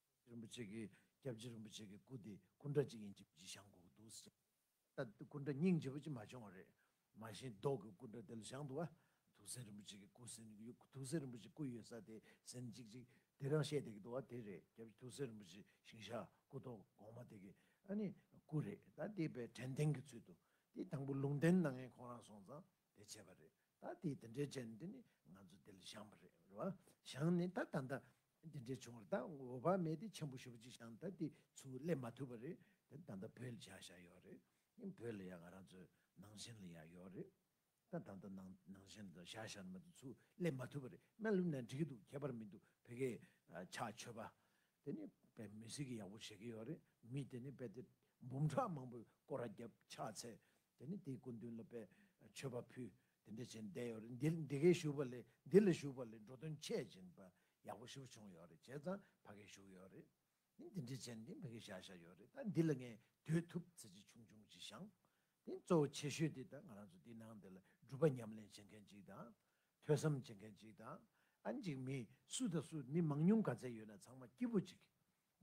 རིན་པོ་ཆེ་གི་སྐྱབས་རྗེ་རིན་པོ་ཆེ་གི་སྐུ་དེ་སྐུ་འདྲ་གཅིག་ཡིན་གཅིག་བརྗིད་ཞང་གོག་འདུག་ཟེར། ད་སྐུ་འདྲ་སྙིང་རྗེ་བོ་གཅིག་མ་བྱུང་བ་རེད། མ་གཞི་མདོག་གི་སྐུ་འདྲ་དེ་ལ་ཞང་འདུག་ཨ། དུག་སེལ་རིན་པོ་ཆེ་གི་སྐུ་ཟིན་དུག་སེལ་རིན་པོ་ཆེ་སྐུ་ཡོད་ས་དེ་ཟིན་གཅིག་གཅིག་དེ་རང་བཤད་བསྡད་ཀྱི་འདུག་ཨ་དེ་རེད་སྐྱབས་རྗེ་དུག་སེལ་རིན་པོ་ཆེ་ཞིང་ཞག་སྐུ་ཐོག་གོང་མ་དེ་གི་ཨ་ནི་སྐུ་རེད་ད་དེ་པའི་དྲན་ཐེངས་ཀྱི་ཚུལ་དུ་དེ་དང་པོ་ལུང་བསྟན་གནང་མཁན་ཁོང་རང་སོང་ཙང་དེ་བྱས་པ་རེད་ད་དེ་དེ་འདྲའི་བྱས་ནས་དེ་ནི་ང་ཚོ་དེ་ལ་ཞང་པ་རེད་བ། ཞང་ནི་ད་ད་ལྟ་འདི་འདྲའི་བྱུང་བར་ད་འོ་བ་མེད་དེ་ཆེན་པོ་ཞུ་བ་ཅིག་བྱང་ད་དེ་ཚུལ་སླེབས་མ་ཐུབ་པ་རེད་དེ་ད་ལྟ་བོད་ལ་བྱ་བཞག་ཡོད་རེད་དེ་བོད་ལ་ཡང་ང་རང་ཚོའི་ནང་བཞིན་ལ་ཡང་ཡོད་རེད་ད་ད་ལྟ་ནང་ནང་བཞིན་ལ་བྱ་བཞག་ནི་མ་དེ་ཚུལ་སླེབས་མ་ཐུབ་པ་རེད་སྨན་ལུགས་ནས་འགྲིག་གི་འདུག་ཁྱད་པར་མི་འདུག་བོད་སྐད་ཆ་ཆོས་པ་དེ་ནི་བེད་མི་སྲིད་གི་ཡག་པོ་བྱེད་གི་ཡོད་རེད་མི་དེ་ནི་རྦད་དེ་འབུམ་ཕྲག་མང་པོས་སྐོར་ར་རྒྱབ་ཆགས་ཚེ་དེ་ནས་དེའི་སྐུ་མདུན་ལ་དཔལ་མཆོད་པ་ཕུལ། དེ་འདྲ་བྱས་ནས་བསྡད་ཡོད་རེད། འདིར་འདི་གའི་བཞུགས་པ་ལས་འདི་ལ་བཞུགས་པ་ལས་འགྲོ་དོན་ཆེ་བཞིན་པ་ཡག་པོ་ཞིག་པོ་བྱུང་ཡོད་རེད་བྱས་ཙང་ཕ་གའི་བཞུགས་ཡོད་རེད། དེ་འདི་འདྲ་བྱས་ནས་འདི་ཕ་གའི་བཞག་བཞག་ཡོད་རེད་ད་འདི་ལ་ངས་སྡོད་ཐུབ་ཚེ་ཆེ་ཆུང་ཆུང་ཅིག་བཞག། དེ་གཙོ་བོ་ཆེ་ཤོས་དེ་ད་ང་རང་ཚོ་འདི་ནང་འདི་ལ་སྒྲུབ་པ་ཉམས་ལེན་བྱེད་མཁན་ཅིག་དང། ཐོས་བསམ་བྱེད་མཁན་ཅིག་དང། ཨ་འཇིགས་མེད་སུ་དང་སུ་མི་མང་ཉུང་ག་ཚད་ཡོད་ན་ཚང་མ་སྐྱིད་པོ་ཅིག་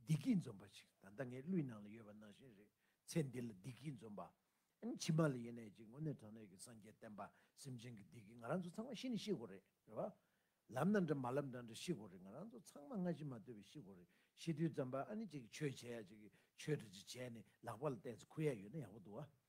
བདེ་སྐྱིད་འཛོམས་པ་ཞིག་ད་ལྟ་ངའི་གླུའི་ནང་ལ་ཡོད་པ་ནང་བཞིན་རེད་ཚེ་འདི་ལ་བདེ་སྐྱིད་འཛོམས་པ། ཕྱི་མ་ལ་ཡེ་ནས་ཅིག་དངོས་གནས་དྲང་གནས་ཀྱི་སངས་རྒྱས་བསྟན་པ་སེམས་ཅན་གྱི་བདེ་སྐྱིད་ང་རང་ཚོ་ཚང་མ་ཤི་ནི་ཤི་དགོས་རེད་རེད་བ། ལབ་ན་འདྲ་མ་ལབ་འདྲ་འདྲ་ཤི་དགོས་རེད་ང་རང་ཚོ་ཚང་མ་སྔ་ཕྱི་མ་ལྟོས་པའི་ཤི་དགོས་རེད་ཤི་དུས་ཙམ་པ་ཨ་ནི་ཅིག་ཆོས་བྱེད་ཡ་ཅིག་ཆོས་གྲ་ཅིག་བྱས་ནི་ལག་པ་ལ་བལྟས་ཚེ་ཁུ་ཡ་ཡོད་ན་ཡག་པོ་འདུག་བ།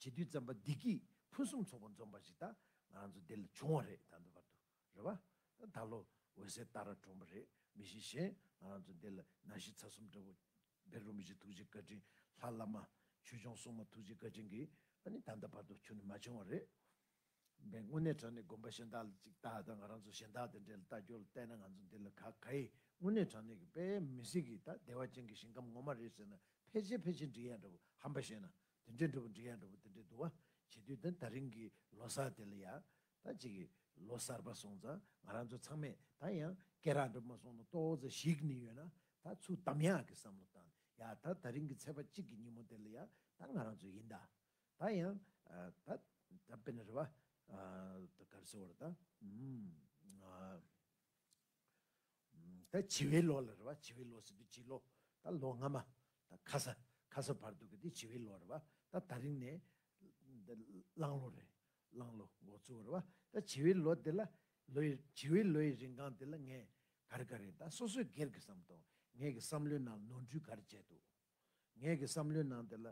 བྱེད་དུས་བརྩམས་པ་བདེ་སྐྱིད་ཕུན་སུམ་ཚོགས་པ་འཛོམས་པ་ཞིག་ད་ང་རང་ཚོ་འདི་ལ་བྱུང་བ་རེད་ད་འདི་བར་དུ་རེད་བ། ད་ད་ལོ་འོད་ཟེར་སྟག་ར་གྲོང་པ་རེད་མི་ཤེས་གཞན་ང་རང་ཚོ་འདི་ལ་ན་གཞི་ཚ་གསུམ་འདྲ་བོ། བེ་རུ་མི་བཞི་ཐུགས་རྗེ་བཀའ་དྲིན་ལྷ་བླ་མ། ཆོས་སྐྱོང་སྲུང་མ་ཐུགས་རྗེ་བཀའ་དྲིན་གྱིས་ཨ་ནི་ད་འདི་བར་དུ་ཆུང་ནས་མ་བྱུང་བ་རེད། བན་དངོས་གནས་དྲང་ནས་དགོན་པ་གཞན་དག་ལ་ཅིག་ལྟ་ད་ང་རང་ཚོ་གཞན་དག་དང་འདྲེ་ལ་ལྟ་སྐྱོ་ལ་བལྟས་ན་ང་ཚོ་འདི་ལ་ག་ག་ཡི་དངོས་གནས་དྲང་གནས་ཀྱི་དཔེ་མི་སྲིད་གི་ད་བདེ་བ་ཅན་གྱི་ཞིང་ཁམས་ངོ་མ་རེད་ཟེར་ན་ཕལ་ཆེར་ཕལ་ཆེར་འགྲིག་ཡ་འདྲ་བོ་ཧམ་པ་བཤད་ན་དེ་འདྲའི་འགྲོ་བ་འདྲེ་ཡང་འགྲོ་བ་དེ་འདྲའི་འདུ་བ་བྱེད་དུས་དེ་ད་རིང་གི་ལོ་སར་དེ་ལ་ཡང་ད་ཅིག་གི་ལོ་སར་པ་སོང་ཙང་ང་རང་ཚོ་ཚང་མས་ད་ཡང་སྐད་རགས་འགྲོ་མ་སོང་ན་ཏོག་ཙེ་ཞིག་ནི་ཡོད་ན་ད་ཚུར་བདམས་ཡག་གི་བསམ་བློ་བཏང་ཡ་ད་ད་རིང་གི་ཚེས་པ་གཅིག་གི་ཉིན་མོ་དེ་ལ་ཡང་ད་ང་རང་ཚོ་ཡིན་ད་ད་ཡང་ད་ད་དཔེ་ན་རེ་བ་ད་གར་སེ་བོར་ད་ད་བྱི་བའི་ལོ་ལ་རེད་བ་བྱི་བའི་ལོ་ཟེར་དུས་བྱི་ལོ་ད་ལོ་སྔ་མ་ད་ཁ་ས་ཁ་ས་བར་དུ་གི་དེ་བྱི་བའི་ལོ་རེད་བ་ད་ད་རིང་ནས་གླང་ལོ་རེད་གླང་ལོ་འགོ་བཙུགས་རེད་བ་ད་བྱི་བའི་ལོ་དེ་ལ་ལོ་ཡི་བྱི་བའི་ལོ་ཡི་རིན་གང་དེ་ལ་ངས་ག་རེ་ག་རེ་ད་སོ་སོའི་སྒེར་གི་བསམ་དོན་ངས་གི་བསམ་བློའི་ནང་ནོར་འཁྲུལ་ག་རེ་བྱས་འདུག་ངས་གི་བསམ་བློའི་ནང་དེ་ལ་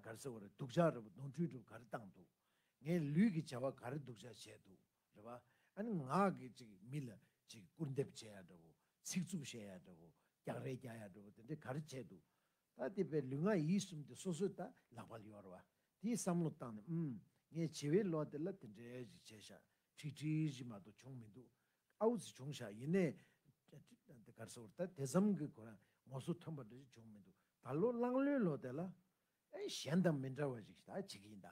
ག་རེ་ཟེར་བ་རེད་སྡུག་ཅག་རེད་བ་ནོར་འཁྲུལ་སྒྲུབ་ག་རེ་བཏང་འདུག་ངས་ལུས་ཀྱི་བྱ་བ་ག་རེ་སྡུག་ཅག་བྱས་འདུག་རེད་པ། ཨ་ནི་ངག་གིས་ཅིག་མི་ལ་ཅིག་སྐུར་འདེབས་བྱེད་ཡག་འདྲ་བོ། ཚིག་རྩུབ་བཤད་ཡག་འདྲ་བོ། རྒྱག་རེས་རྒྱག་ཡག་འདྲ་བོ་དེ་འདྲའི་ག་རེ་བྱས་འདུག་ད་དེ་བས་ལུས་ངག་ཡིད་གསུམ་དེ་སོ་སོས་ད་ལག་པ་ལ་ཡོར་བ། དེའི་བསམ་བློ་བཏང་ནས་ཨུམ། ངས་བྱི་བའི་ལོ་དེ་ལ་དེ་འདྲའི་ཞིག་བྱས་ཤག་ཁྲིག་ཁྲིག་ཞིག་མ་གཏོགས་བྱུང་མི་འདུག་ཨ་འུ་ཚི་བྱུང་ཤག་ཡིན་ནའི། དེ་གར་སོར་ད་དེ་ཙམ་གྱི་གོ་རང་ངོ་སོ་ཐོན་པ་འདྲ་ཞིག་བྱུང་མི་འདུག་ད་ལོ་གླང་ལོའི་ལོ་དེ་ལ། ཨེ་གཞན་དང་མི་འདྲ་བ་ཞིག་ད་བྱེད་ཀྱི་ཡིན་ད།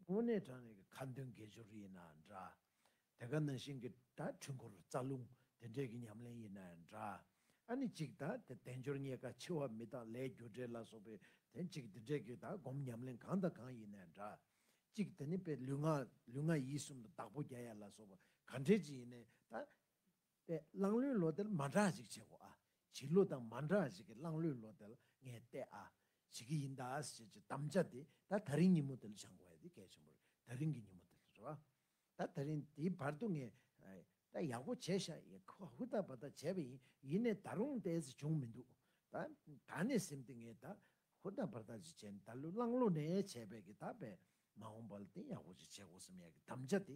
དངོས་གནས་དྲང་གནས་ཀྱི་ཁ་འདོན་དགེ་སྦྱོར་ཡིན་ན་འདྲ། དེ་ག་ན་བཞིན་གྱི་དྲ་འཕྲུལ་འཁོར་རྩ་རླུང་དེ་འདྲས་ཀྱི་ཉམས་ལེན་ཡིན་ན་ཡང་འདྲ། ཨ་ནི་གཅིག་ད་དེ་དལ་འབྱོར་རྙེད་དཀའ་ཆེ་བ་མི་དང་ལས་རྒྱུ་འབྲས་ལ་སོགས་པའི་དོན་གཅིག་འདི་འདྲས་ཀྱི་ད་སྒོམ་ཉམས་ལེན་གང་དང་གང་ཡིན་ན་འདྲ། གཅིག་དེ་ནི་དཔེ་ལུས་ངག་ལུས་ངག་ཡིད་གསུམ་དུ་བདག་པོ་རྒྱ་ཡལ་ལ་སོགས་པ་ག་འདྲས་ཀྱི་ཡིན་ན་ད། པའི་གླང་ལོའི་ལོ་དེར་མ་འདྲ་ཞིག་བྱེད་གོ་ཨ། བྱིས་བློ་དང་མ་འདྲ་ཞིག་གིས་གླང་ལོའི་ལོ་དེར་ངས་བལྟས་ཨ། བྱེད་ཀྱི་ཡིན་ད་ཟེར་གྱི་དམ་བཅའ་དེ་ད་ད་རིང་ཉིན་མོ་དེ་ལ་བྱང་གོ་ཨེ་དེ་གལ་ཆེན་པོ་རེད་ད་རིང་གི་ཉིན་མོ་དེ་ལ་རེད་བ། ད་ད་རིང་དེའི་བར་དུ་ངས་ད་ཡག་པོ་བྱས་ཤག་ཡེ་ཁ་ཧུ་ད་བ་ད་བྱས་པ་ཡིན་ཡིན་ནས་ད་རུང་ད་ཟེར་བྱུང་མི་འདུག་ད། ད་ནས་སེམས་ཏེ་ངས་ད་ཧུ་ད་བར་ད་ཅིག་བྱས་ནས་ད་ལོའི་གླང་ལོ་ནས་བྱས་པས་ཀྱི་ད་བས་མ་འོངས་པ་ལ་དེ་ཡག་པོ་ཅིག་བྱེད་གོ་སེམས་ཡག་གི་དམ་བཅའ་དེ་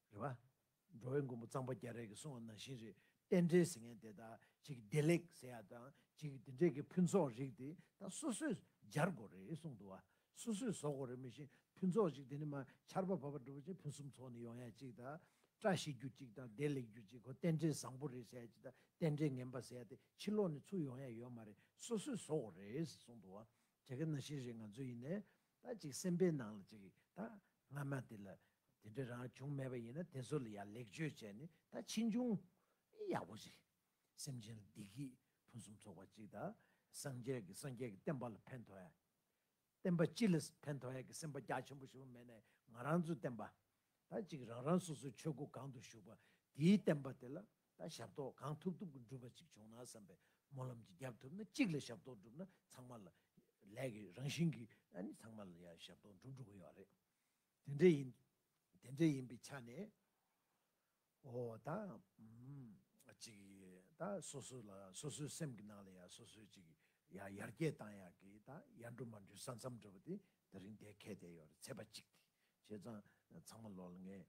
རེད་བ། འགྲོ་བའི་མགོན་པོ་གཙང་པ་རྒྱ་རས་ཀྱི་གསུང་བ་ནང་བཞིན་རེད་རྟེན་འབྲེལ་ཟེར་མཁན་དེ་དག་ཅིག་བདེ་ལེགས་ཟེར་ཡག་དང་ཅིག་དེ་འདྲས་ཀྱི་ཕུན་ཚོགས་རིགས་དེ་དག་སོ་སོས་སྦྱར་དགོས་རེད་གསུང་འདུག་བ། སོ་སོས་བཟོ་དགོས་རེད་མི་བཞིན་ཕུན་ཚོགས་ཅིག་དེ་ནི་མ་ཆར་པ་བབ་པ་འགྲོ་བ་ཅིག་ཕུན་སུམ་ཚོགས་ནི་ཡོང་ཡག་ཅིག་དང། བཀྲ་ཤིས་རྒྱུ་ཅིག་དང་བདེ་ལེགས་རྒྱུ་ཅིག་གོ་རྟེན་འབྲེལ་བཟང་པོ་རེད་ཟེར་ཡག་ཅིག་དང་རྟེན་འབྲེལ་ངན་པ་ཟེར་ཡག་དེ་ཕྱི་ལོགས་ནས་ཚུར་ཡོང་ཡག་ཡོད་མ་རེད་སོ་སོས་བཟོ་དགོས་རེད་གསུང་འདུག་བ། དེ་ག་ནང་བཞིན་རེད་ང་ཚོ་ཡིན་ནའི། ད་ཅིག་སེམས་པའི་ནང་ལ་ཅིག་ད་སྔ་མ་དེ་ལ་དེ་འདྲ་རང་བྱུང་མེད་པ་ཡིན་ན་དེ་ཚོ་ལ་ཡང་ལེགས་བཅོས་བྱས་ནས་ད་ཕྱིས་འབྱུང་ཨེ་ཡག་པོ་རེད། སེམས་ཅན་ལ་བདེ་སྐྱིད་ཕུན་སུམ་ཚོགས་པ་ཅིག་ད་སངས་རྒྱས་ཀྱི་སངས་རྒྱས་ཀྱི་བསྟན་པ་ལ་ཕན་ཐོགས་ཡ། བསྟན་པ་སྤྱི་ལ་ཕན་ཐོགས་ཡ་གི་སེམས་པ་རྒྱ་ཆེན་པོ་ཞིག་མེད་ནས་ང་རང་ཚོའི་བསྟན་པ། ད་ཅིག་རང་རང་སོ་སོའི་ཆོས་སྒོ་གང་དུ་ཞུགས་པ་དེའི་བསྟན་པ་དེ་ལ་ད་ཞབས་ཏོག་གང་ཐུབ་ཐུབ་ཀྱི་འགྲུབ་པ་ཅིག་བྱུང་ན་བསམ་པའི་སྨོན་ལམ་གྱིས་རྒྱབ་ཐུབ་ན་གཅིག་ལ་ཞབས་ཏོག་བསྒྲུབས་ན་ཚང་མ་ལ། ལས་ཀྱི་རང་བཞིན་གྱིས་ནི་ཚང་མ་ལ་ཡང་ཞབས་ཏོག་འགྲུབ་འགྲོ་གི་ཡོད་རེད། དེ་འདྲ་ཡིན། དེ་འདྲ་ཡིན་པའི་ཆ་ནས། འོ་ད། ཅིག། ད་སོ་སོ་ལ་སོ་སོའི་སེམས་ཀྱི་ནང་ལ་ཡང་སོ་སོའི་ཅིག། ཡང་ཡར་རྒྱས་བཏང་ཡག་གི་ད་ཡར་འགྲོ་མར་འགྲོའི་ས་མཚམས་འདྲ་བོ་དེ་ད་རིང་དེ་གས་དེ་ཡོད་རེད་ཚེས་པ་གཅིག་དེ། བྱས་ཙང་ཚང་མ་ལོག་ལ་ངས།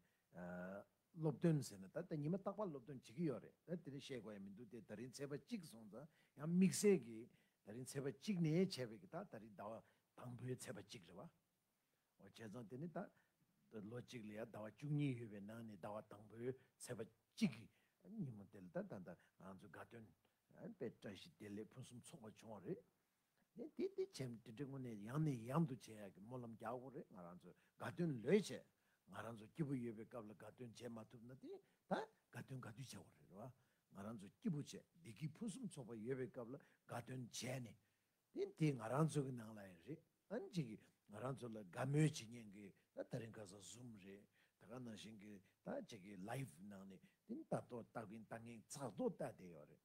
སློབ་སྟོན་ཟེར་ན་ད་ལྟ་ཉི་མ་རྟག་པར་སློབ་སྟོན་བྱེད་ཀྱི་ཡོད་རེད་ད་དེ་འདྲ་བཤད་དགོས་ཡ་མི་འདུག་དེ་ད་རིང་ཚེས་པ་གཅིག་སོང་ཙང་ཡང་དམིགས་བསལ་གྱིས་ད་རིང་ཚེས་པ་གཅིག་ནས་བྱས་པའི་གི་ད་ད་རིང་ཟླ་བ་དང་པོའི་ཚེས་པ་གཅིག་རེད་བ། འོ་བྱས་ཙང་དེ་ནི་ད་ལོ་གཅིག་ལ་ཡ་ཟླ་བ་བཅུ་གཉིས་ཡོད་པའི་ནང་ནས་ཟླ་བ་དང་པོའི་ཚེས་པ་གཅིག་གི་ཉིན་མོ་དེ་ལ་ད་ད་ད་ང་ཚོའི་དགའ་སྟོན་དཔེ་བཀྲ་ཤིས་བདེ་ལེགས་ཕུན་སུམ་ཚོགས་པ་བྱུང་བ་རེད། དེ་དེ་དེ་བྱས་མི་དེ་དངོས་གནས་ཡང་ནས་ཡང་དུ་བྱས་ཡག་གི་སྨོན་ལམ་རྒྱག་དགོས་རེད་ང་རང་ཚོས་དགའ་སྟོན་ལོས་བྱས་ང་རང་ཚོ་སྐྱིད་པོ་ཡོད་པའི་སྐབས་ལ་དགའ་སྟོན་བྱས་མ་ཐུབ་ན་དེ་ད་དགའ་སྟོན་ག་དུས་བྱ་དགོས་རེད་བ་ང་རང་ཚོ་སྐྱིད་པོ་བྱས་བདེ་སྐྱིད་ཕུན་སུམ་ཚོགས་པ་ཡོད་པའི་སྐབས་ལ་དགའ་སྟོན་བྱས་ནས་དེ་དེ་ང་རང་ཚོ་གི་ནང་ལ་ཡང་རེད་ཨང་ཅིག་གིས་ང་རང་ཚོ་ལ་དགའ་མོས་བྱེད་ཉན་གི་ད་ད་རིང་ག་ས Zoom རེད་ད་ག་ནང་བཞིན་གི་ད་ཅིག་གི Live ནང་ནས་དེ་ལྟ་ལྟོ་ལྟ་གིན་ལྟ་ངན་ཚགས་ལྟོ་ལྟ་བསྡད་ཡོད་རེད་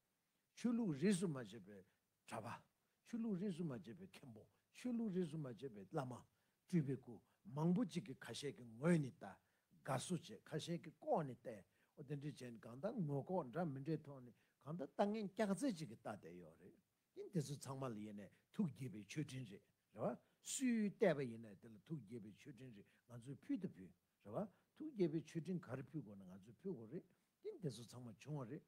ཆོས་ལུགས་རིས་སུ་མ་ཆད་པའི་གྲྭ་པ། ཆོས་ལུགས་རིས་སུ་མ་ཆད་པའི་མཁན་པོ། ཆོས་ལུགས་རིས་སུ་མ་ཆད་པའི་བླ་མ། སྤྲུལ་པའི་སྐུ། མང་པོ་གཅིག་གིས་ཁ་ཤས་ཀྱི་ངོས་ནས་བལྟ། དགའ་བསུ་བྱེད་ཁ་ཤས་ཀྱིས་ལྐོག་ནས་བལྟས། འོ་དེ་འདྲའི་བྱས་ནས་གང་ལྟར་ངོས་ལྐོག་འདྲ་མི་འདྲའི་ཐོག་ནས་གང་ལྟར་ལྟ་ངན་སྐྱག་རྫས་གཅིག་གིས་བལྟ་བསྡད་ཡོད་རེད། ཡིན་དེ་ཚོ་ཚང་མ་ལ་ཡེ་ནས་ཐུགས་དགྱེས་པའི་མཆོད་སྤྲིན་རེད་རེད་བ། སུས་བལྟས་པ་ཡིན་ན་དེ་ལ་ཐུགས་དགྱེས་པའི་མཆོད་སྤྲིན་རེ་ང་ཚོས་ཕུལ་དང་ཕུལ། རེད་བ། ཐུགས་དགྱེས་པའི་མཆོད་སྤྲིན་ག་རེ་ཕུལ་དགོས་ན་ང་ཚོས་ཕུལ་དགོས་རེད། ཡིན་དེ་ཚོ་ཚང་མ་བྱུང་བ་རེད།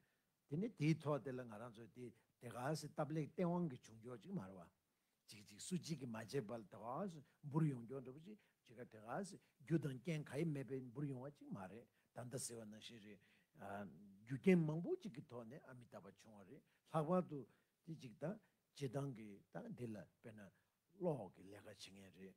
དེ་ནི་དེའི་ཐོག་དེ་ལ་ང་རང་ཚོས་དེ་དེ་ག་ཟེ་སྟབས་ལེགས་སྟེས་དབང་གི་བྱུང་ཕྱོགས་ཅིག་མ་རེད་བ། ཅིག་ཅིག་སུ་གཅིག་གིས་མ་བྱས་པ་ལ་དེ་ག་ཟེ་འབུར་ཡོང་ཀྱང་འགྲོ་བ་ཅིག་ཅིག་ག་དེ་ག་ཟེ་རྒྱུ་དང་རྐྱེན་ག་ཡེ་མེད་པས་འབུར་ཡོང་བ་ཅིག་མ་རེད་ད་ཟེ་བ་ནང་བཞིན་རེད། རྒྱུ་རྐྱེན་མང་པོ་ཅིག་གི་ཐོག་ནས་ཨ་མི་ད་པ་བྱུང་བ་རེད་ལྷག་པར་དུ་དེ་ཅིག་དང་བྱེད་སྟངས་ཀྱི་སྟངས་འདི་ལ་དཔེར་ན་གློག་གི་ལས་ཀ་བྱེད་མཁན་རེད།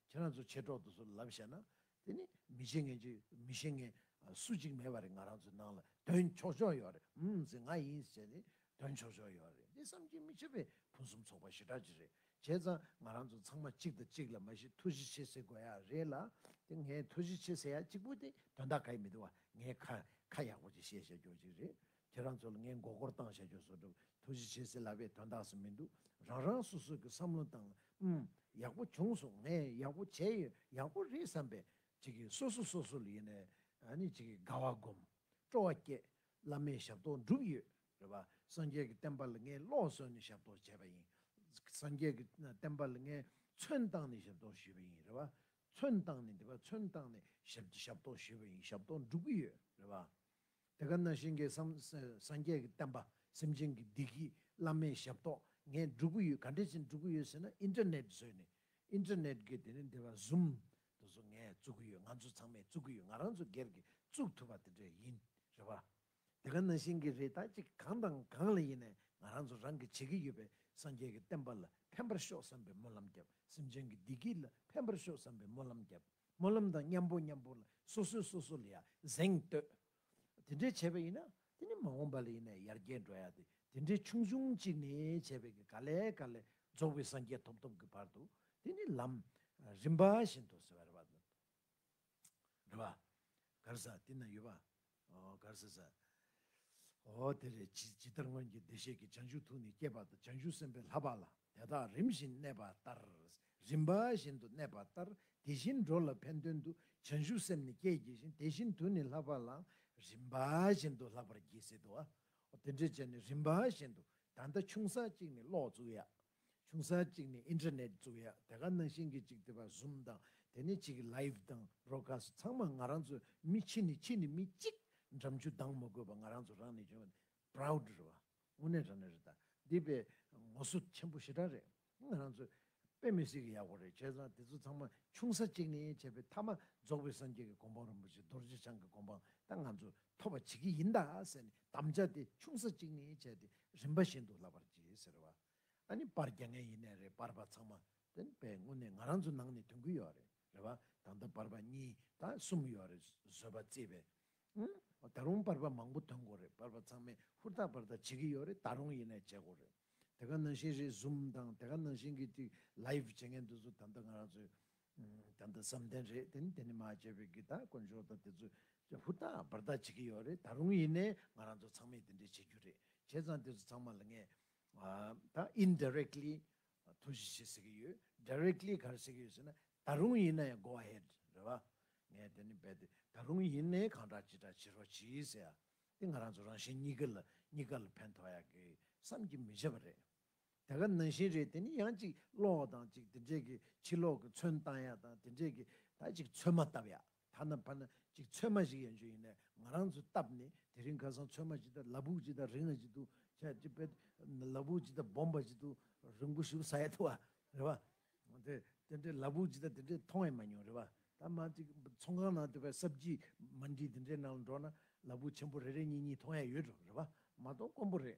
ཁྱེད་རང་ཚོ་མཆེད་གྲོགས་དུ་སུ་ལབ་བཤད་ན་དེ་ནི་མི་ཤེས་ངན་གྱི་མི་ཤེས་ངན་སུ་གཅིག་མེད་པ་རེད་ང་རང་ཚོའི་ནང་ལ་དོན་ཆོག་ཆོག་ཡོད་རེད་འུ་ཟེར་ང་ཡིན་ཟེར་བྱས་ཏེ་དོན་ཆོག་ཆོག་ཡོད་རེད་འདི་བསམ་གྱིས་མི་ཁྱབ་པའི་ཕུན་སུམ་ཚོགས་པ་ཞེ་དྲག་ཅིག་རེད་བྱས་ཙང་ང་རང་ཚོ་ཚང་མ་གཅིག་དང་གཅིག་ལ་མ་གཞི་ཐུགས་གཞི་ཆེ་ཟེར་དགོས་ཡ་རེད་ལ་དེ་ངས་ཐུགས་གཞི་ཆེ་ཟེར་ཡ་གཅིག་པོ་དེ་དོན་དག་ག་ཡི་མི་འདུག་བ་ངས་ཁ་ཁ་ཡག་པོ་ཅིག་བཤད་བཤད་རྒྱོགས་ཅིག་རེད་ཁྱེད་རང་ཚོ་ལ་ངས་མགོ་སྐོར་བཏང་བཤད་རྒྱུ་བཟོ་སྒྲུབ་ཐུགས་གཞི་བྱེད་སྲིད་ལབ་པའི་དོན་དག་སུ་མི་འདུག་རང་རང་སོ་སོ་གི་བསམ་བློ་དང་ཨུམ། ཡག་པོ་བྱུང་སོང་ངས་ཡག་པོ་བྱས་ཡོད་ཡག་པོ་རེད་བསམ་པའི། ཅིག་གིས་སོ་སོ་སོ་སོ་ལ་ཡེ་ནས་ཨ་ནི་ཅིག་གིས་དགའ་བ་སྒོམ། སྤྲོ་བ་བསྐྱེད། བླ་མའི་ཞབས་ཏོག་འགྲུབ་ཡོད་རེད་བ། སངས་རྒྱས་ཀྱི་བསྟན་པ་ལ་ངས་ལོག་གསོལ་ནས་ཞབས་ཏོག་བྱས་པ་ཡིན། སངས་རྒྱས་ཀྱི་བསྟན་པ་ལ་ངས་མཚོན་བཏང་ནས་ཞབས་ཏོག་ཞུས་པ་ཡིན་རེད་བ། མཚོན་བཏང་ནས་འདི་བ་མཚོན་བཏང་ནས་ཞབས་ཞབས་ཏོག་ཞུས་པ་ཡིན་ཞབས་ཏོག་འགྲུབ་ཀྱི་ཡོད་རེད་བ། དེ་ག་ན་ཤིང་གེ་སངས་རྒྱས་ཀྱི་བསྟན་པ་སེམས་ཅན་གྱི་བདེ་སྐྱིད་བླ་མའི་ཞབས་ཏོག་ངས་སྒྲུབ་ཀྱི་ཡོད་ག་འདྲས་ཅན་སྒྲུབ་ཀྱི་ཡོད་ཟེར་ན Internet བཟོས་ནས Internet གི་དེ་ནས་འདི་བ Zoom དེ་ཚོ་ངས་བཙུགས་ཀྱི་ཡོད་ང་ཚོ་ཚང་མས་བཙུགས་ཀྱི་ཡོད་ང་རང་ཚོ་སྒེར་གྱིས་བཙུགས་ཐུབ་པ་དེ་འདྲས་ཡིན་རེད་བ། དེ་ག་ན་ཤིང་གི་རེ་ད་ཅིག་གང་དང་གང་ལ་ཡིན་ནས་ང་རང་ཚོ་རང་གི་བྱེད་ཀྱི་ཡོད་པའི་སངས་རྒྱས་ཀྱི་བསྟན་པ་ལ་ཕན་པར་ཤོག་བསམ་པའི་སྨོན་ལམ་བརྒྱབ་སེམས་ཅན་གྱི་བདེ་སྐྱིད་ལ་ཕན་པར་ཤོག་བསམ་པའི་སྨོན་ལམ་བརྒྱབ། སྨོན་ལམ་དང་མཉམ་པོ་མཉམ་པོ་ལ་སོ་སོས་སོ་སོ་ལ་ཡང་གཟེངས་བསྟོད། དེ་འདྲའི་བྱས་པ་ཡིན་ན་དེ་ནི་མ་འོངས་པ་ལ་ཡིན་ན་ཡར་རྒྱས་འགྲོ་ཡག་སྟེ་དེ་འདྲའི་ཆུང་ཆུང་གཅིག་ནས་བྱས་པའི་གི་ག་ལས་ག་ལས་རྫོགས་པའི་སངས་རྒྱས་ཐོབ་ཐོབ་ཀྱི་བར་དུ་དེ་ནི་ལམ་རིམ་པ་བཞིན་དུ་ཟེར་བ་རེད་པ། རེད་པ། ག་རེ་ཟ་དེ་ན་ཡོད་པ། གར་སེ་བཟའ། འོ་དེ་རེད་ཇི་ལྟར་སྔོན་གྱི་བདེ་གཤེགས་ཀྱི་བྱང་ཆུབ་ཐུགས་ནི་སྐྱེས་པ་དང་བྱང་ཆུབ་སེམས་དཔའི་ལྷ་བག་ལ་དེ་དག་རིམ་བཞིན་གནས་པ་ལྟར་རིམ་པ་བཞིན་དུ་གནས་པ་ལྟར་དེ་བཞིན་འགྲོ་ལ་ཕན་དོན་དུ་བྱང་ཆུབ་སེམས་ནི་སྐྱེད་བགྱི་ཞིང་དེ་བཞིན་དུ་ནི་ལྷ་བག་ལའང་རིམ་པ་བཞིན་དུ་ལྷག་པར་བགྱིད་སྲིད་དོ། འོ་དེ་འདྲའི་ཅན་ནི་རིམ་པ་བཞིན་དུ་ད་ལྟ་ཆུང་ས་གཅིག་ནི་ཀློག་ཚུགས་ཡག། ཆུང་ས་གཅིག་ནས Internet བཙུགས་ཡ་དེ་ག་ནང་བཞིན་གྱི་ཅིག་དེ་བ Zoom དང་དེ་ནས་ཅིག Live དང Broadcast ཚང་མ་ང་རང་ཚོ་མི་ཕྱི་ནས་ཕྱི་ནས་མི་གཅིག་འགྲམ་ཆུ་ལྡང་མ་དགོས་པ་ང་རང་ཚོ་རང་ནས་བྱུང Proud རེད་བ་དངོས་གནས་རང་ནས་རེད་ད་འདི་བས་ངོ་སོ་ཆེན་པོ་ཞེ་དྲག་རེད་ང་རང་ཚོ་དཔེ་མི་སྲིད་གི་ཡག་པོ་རེད་བྱས་ཙང་དེ་ཚོ་ཚང་མ་ཆུང་ས་གཅིག་ནས་བྱས་པའི་མཐའ་མ་རྫོགས་པའི་སངས་རྒྱས་ཀྱི་གོ་འཕང་རིན་པོ་ཆེ་རྡོ་རྗེ་འཆང་གི་གོ་འཕང་ད་ང་ཚོ་ཐོབ་པ་བྱེད་ཀྱི་ཡིན་ད་ཟེར་ནས་དམ་བཅའ་དེ་ཆུང་ས་གཅིག་ནས་བྱས་ཏེ་རིམ་པ་བཞིན་དུ་ལབ་པར་གྱིས་ཟེར་བ། ཨ་ནི་པར་རྒྱག་མཁན་ཡིན་ནའི་རེད་པར་པ་ཚང་མ་དེ་ནི་པའི་སྔུན་ནས་ང་རང་ཚོའི་ནང་ནས་དོན་ཀུན་ཡོད་རེད་བ་ད་ལྟ་པར་པ་གཉིས་དང་གསུམ་ཡོད་རེད་བཟོད་པ་བརྩིས་པས། ཨུན། ད་རུང་པར་པ་མང་པོ་དོན་གོ་རེད་པར་པ་ཚང་མས་ཧུར་ཐག་པར་ཐག་བྱེད་ཀྱི་ཡོད་རེད་ད་རུང་ཡིན་ནའི་བྱེད་གོ་རེད། དེ་ག་ནང་བཞིན་རེད Zoom དང་དེ་ག་ནང་བཞིན་གྱི་ཅིག Live བྱེད་མཁན་དེ་ཚོ་ད་ལྟ་ང་རང་ཚོའི་བདེན་དང་བསམ་གཏན་རེད་དེ་ནི་དེ་ནི་མ་བྱས་པའི་གི་དག་དཀོན་མཆོག་དང་དེ་ཚོ་ཧུར་ཐག་འབར་ཐག་བྱེད་ཀྱི་ཡོད་རེད་ད་རུང་ཡིན་ནའི་ང་རང་ཚོ་ཚང་མས་དེ་འདྲའི་བྱེད་རྒྱུ་རེད་བྱས་ཙང་དེ་ཚོ་ཚང་མ་ལ་ངས་ད Indirectly དོ་བཞི་བྱེད་ཟེར་གྱི་ཡོད Directly ག་རེ་ཟེར་གྱི་ཡོད་ཟེར་ན་ད་རུང་ཡིན་ནའི Go Ahead རེད་བ་ངས་དེ་ནི་འབད་དེ་ད་རུང་ཡིན་ནའི་གང་དྲག་ཅི་དྲག་བྱེད་རོགས་གྱིས་ཟེར་ཡ་དེ་ང་རང་ཚོ་རང་བཞིན་གཉིས་ཀ་ལ་གཉིས་ཀ་ལ་ཕན་ཐོགས་ཡག་གི་བསམ་གྱི་མི་བྱེད་པ་རེད། དེ་ག་ནང་བཞིན་རེད་དེ་ནི་ཡང་ཅིག་ཀློག་དང་ཅིག་དེ་འདྲས་ཀྱི་ཕྱི་ལོག་གི་ཚོན་བཏང་ཡ་དང་དེ་འདྲས་ཀྱི་ད་ཅིག་ཚོན་མ་བཏབ་ཡ་ཐ་ན་ཕ་ན་ཅིག་ཚོན་མ་ཞིག་ཡན་ཆོད་ཡིན་ནའི་ང་རང་ཚོས་བཏབ་ནི་དེ་རིང་ཁ་སང་ཚོན་མ་ཅིག་ད་ལ་བུག་ཅིག་ད་རིང་ང་ཅིག་ཏུ་ཆ་ཅིག་པད་ལ་བུག་ཅིག་ད་སྦོམ་པ་ཅིག་ཏུ་རིང་པོ་ཞུགས་ས་ཡ་ཐུ་བ་རེད་བ་དེ་དེ་འདྲས་ལ་བུག་ཅིག་ད་དེ་འདྲས་མཐོང་ཡ་མ་མྱོང་རེད་བ་ད་མ་ཅིག་ཚོང་ཁང་ནང་དེ་བས་གསར་བརྗིད་མ་འདྲིས་དེ་འདྲས་ནང་ལ་འགྲོ་ན་ལ་བུག་ཆེན་པོ་རེ་རེ་གཉིས་གཉིས་མཐོང་ཡ་ཡོད་རེད་བ་མ་གཏོགས་དཀོན་པོ་རེད་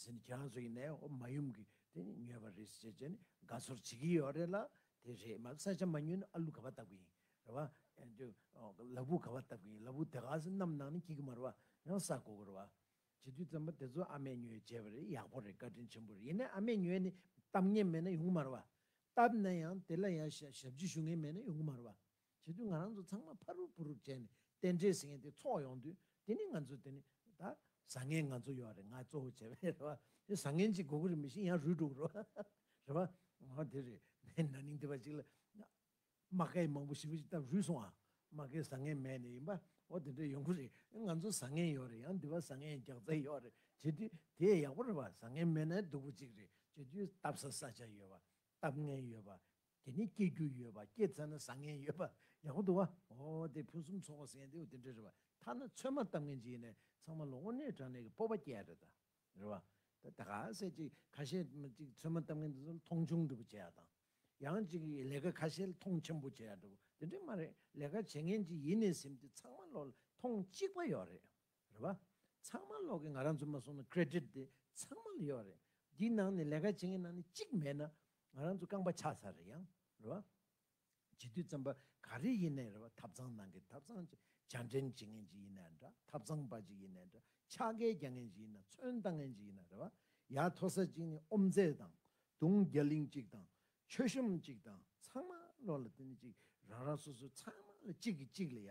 ཟེར་ནས་ཁྱེད་རང་ཚོ་ཡིན་ནའི་ཨོ་མ་ཡུམ་གྱི་དེ་ནི་ཉོས་པ་རེད་ཟེར་བྱས་ནས་དགའ་ཚོར་བྱེད་ཀྱི་ཡོད་རེད་ལ་དེ་རེད་མ་ས་ཆ་མ་ཉོས་ན་ཨ་ལུ་ག་བ་བཏབ་གི་ཡིན་རེད་བ། དེ་ལ་བུ་ག་བ་བཏབ་གི་ཡིན་ལ་བུ་དེ་ག་ས་གནམ་ནང་ནས་སྐྱིད་ཀྱི་མ་རེད་བ་ཡང་ས་གོ་གི་རེད་བ། བྱེད་དུས་ཙམ་པོ་དེ་ཚོ་ཨ་མས་ཉོས་བྱས་པ་རེད་ཡག་པོ་རེད་བཀའ་དྲིན་ཆེན་པོ་རེད་ཡིན་ནའི་ཨ་མས་ཉོས་ནས་བཏབ་ངེས་མེད་ན་ཡོང་གི་མ་རེད་བ། བཏབ་ན་ཡང་དེ་ལ་ཡང་ཞབས་ཕྱི་ཞུ་ངེས་མེད་ན་ཡོང་གི་མ་རེད་བ། བྱེད་དུས་ང་རང་ཚོ་ཚང་མ་ཕ་རུབ་བུ་རུབ་བྱས་ནས་རྟེན་འབྲེལ་ཟེར་མཁན་དེ་འཚོགས་ཡོང་དུས་དེ་ནི་ང་ཚོ་དེ་ནི་ད། བཟང་ངན་ང་ཚོ་ཡོད་རེད་ང་གཙོ་བོ་བྱས་པ་རེད་བ། དེ་བཟང་ངན་ཅིག་དགོས་ཀྱི་རེད་མི་ཤེས་ཡང་རུལ་འགྲོ་གི་རེད་བ། རེད་བ། ཨོ་དེ་རེད། ན་ནིང་དེ་བ་ཞིག་ལ། རྨ་ཁའི་མང་པོ་ཞིབ་པོ་ཞིག་བཏབ་རུལ་སོང་ཨ། རྨ་ཁའི་བཟང་ངན་མེད་ནི་ཡིན་པ། ཨོ་དེ་འདྲ་ཡོང་གི་རེད། ང་ཚོ་བཟང་ངན་ཡོད་རེད་ཡང་དེ་བ་བཟང་ངན་རྒྱག་རྩལ་ཡོད་རེད་བྱེད་དུས་དེ་ཡག་པོ་རེད་བ་བཟང་ངན་མེད་ན་སྡུག་པོ་ཅིག་རེད་བྱེད་དུས་བཏབ་ས་ས་ཆ་ཡོད་བ། བཏབ་ངན་ཡོད་པ། དེ་ནི་སྐྱེ་རྒྱུ་ཡོད་པ་སྐྱེ་ཚར་ན་བཟང་ངན་ཡོད་པ། ཡག་པོ་འདུག་བ། ཨོ་དེ་ཕུན་སུམ་ཚོགས་པ་ཟེར་མཁན་དེའོ་དེ་འདྲ་རེད་བ། ཐ་ན་ཚོད་མ་བཏབ་ངན་ཅིག་ཡིན་ནའི་ཚང་མ་ལོ་ངོ་གནས་དྲག་ནས་གི་སྤོབས་པ་སྐྱེ་རེད་ད། རེད་བ། ད་ག་ཟེ་ཅིག་ཁ་ཤས་ཅིག་ཚོད་མ་བཏབ་ངན་དེ་ཚོ་ལ་མཐོང་ཆུང་འདྲ་པོ་བྱེད་ཡ་དང། ཡང་ཅིག་ལས་ཀ་ཁ་ཤས་ལ་མཐོང་ཆེན་པོ་བྱེད་ཡ་འདྲ་པོ་དེ་འདྲ་མ་རེད་ལས་ཀ་བྱེད་ངན་ཅིག་ཡིན་ནའི་སེམས་དེ་ཚང་མ་ལོ་ལ་མཐོང་གཅིག་པ་ཡོད་རེད། རེད་བ། ཚང་མ་ལོག་གི་ང་རང་ཚོ་མ་སོང་ན Credit དེ་ཚང་མ་ལ་ཡོད་རེད། འདི་ནང་ནས་ལས་ཀ་བྱེད་མཁན་ནང་ནས་གཅིག་མེད་ན་ང་རང་ཚོ་རྐང་པ་ཆག་ཚར་རེད་ཡང་རེད་བ། བྱེད་དུས་རྩམ་པ་ག་རེ་ཡིན་ནའི་རེད་བ་ཐབ་ཚང་ནང་གི་ཐབ་ཚང་ཅིག་བྱ་འདྲེན་བྱེད་མཁན་ཅིག་ཡིན་ནའི་འདྲ་ཐབ་ཚང་པ་ཅིག་ཡིན་ནའི་འདྲ་ཆག་སྒལ་རྒྱག་མཁན་ཅིག་ཡིན་ན་ཚོན་བཏང་མཁན་ཅིག་ཡིན་ནའི་རེད་བ། ཡ་མཐོ་ས་ཅིག་ནས་ཨོམ་རྩེ་དང་དུང་རྒྱ་གླིང་ཅིག་དང་ཆོས་ཤོམ་ཅིག་དང་ཚང་མ་ལོག་ལ་དེ་ནས་ཅིག་རང་རང་སོ་སོའི་ཚང་མ་ལ་གཅིག་གིས་གཅིག་ལ་ཡ་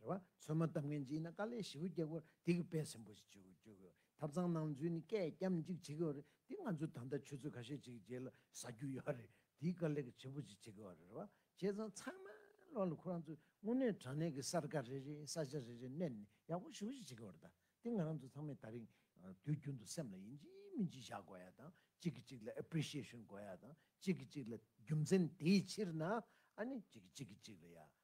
རེ་བ། ཚོད་མ་བཏབ་མཁན་གྱི་ཡིན་ན་དཀའ་ལས་ཞེ་བོ་རྒྱག་དགོས་དེ་གི་དཔེ་ཟིན་པོ་ཞིག་བྱེད་དགོས་ཐབ་ཚང་གནང་ཚུལ་ནི་སྐད་རྒྱམ་གཅིག་བྱེད་དགོས་རེད་དེ་ང་ཚོའི་ད་ལྟ་ཆུ་ཚོད་ཁ་ཤས་གཅིག་རྗེས་ལ་ཟ་རྒྱུ་ཡོད་རེད་དེ་གི་དཀའ་ལས་གི་བྱེད་པོ་ཞིག་བྱེད་དགོས་རེད་རེ་བ། བྱས་ཙང་ཚང་མ་ལོག་ལ་ཁོ་རང་ཚོས་དངོས་གནས་དྲང་གནས་གི་གསར་ཁ་རེ་རེ་ས་ཆ་རེ་རེ་བསྣན་ནས་ཡག་པོ་ཞེ་བོ་ཞིག་བྱེད་དགོས་རེད་ད་དེ་ང་རང་ཚོ་ཚང་མས་ད་རིང་དུས་རྒྱུན་དུ་སེམས་ལ་ཡིན་གཅིག་མིན་གཅིག་བཞག་དགོས་ཡ་དང་གཅིག་གི་གཅིག་ལ appreciation དགོས་ཡ་དང་གཅིག་གི་གཅིག་ལ་རྒྱུ་མཚན་དེའི་ཕྱིར་ན་ཨ་ནི་གཅིག་གི་གཅིག་གི་གཅིག་ལ་ཡ་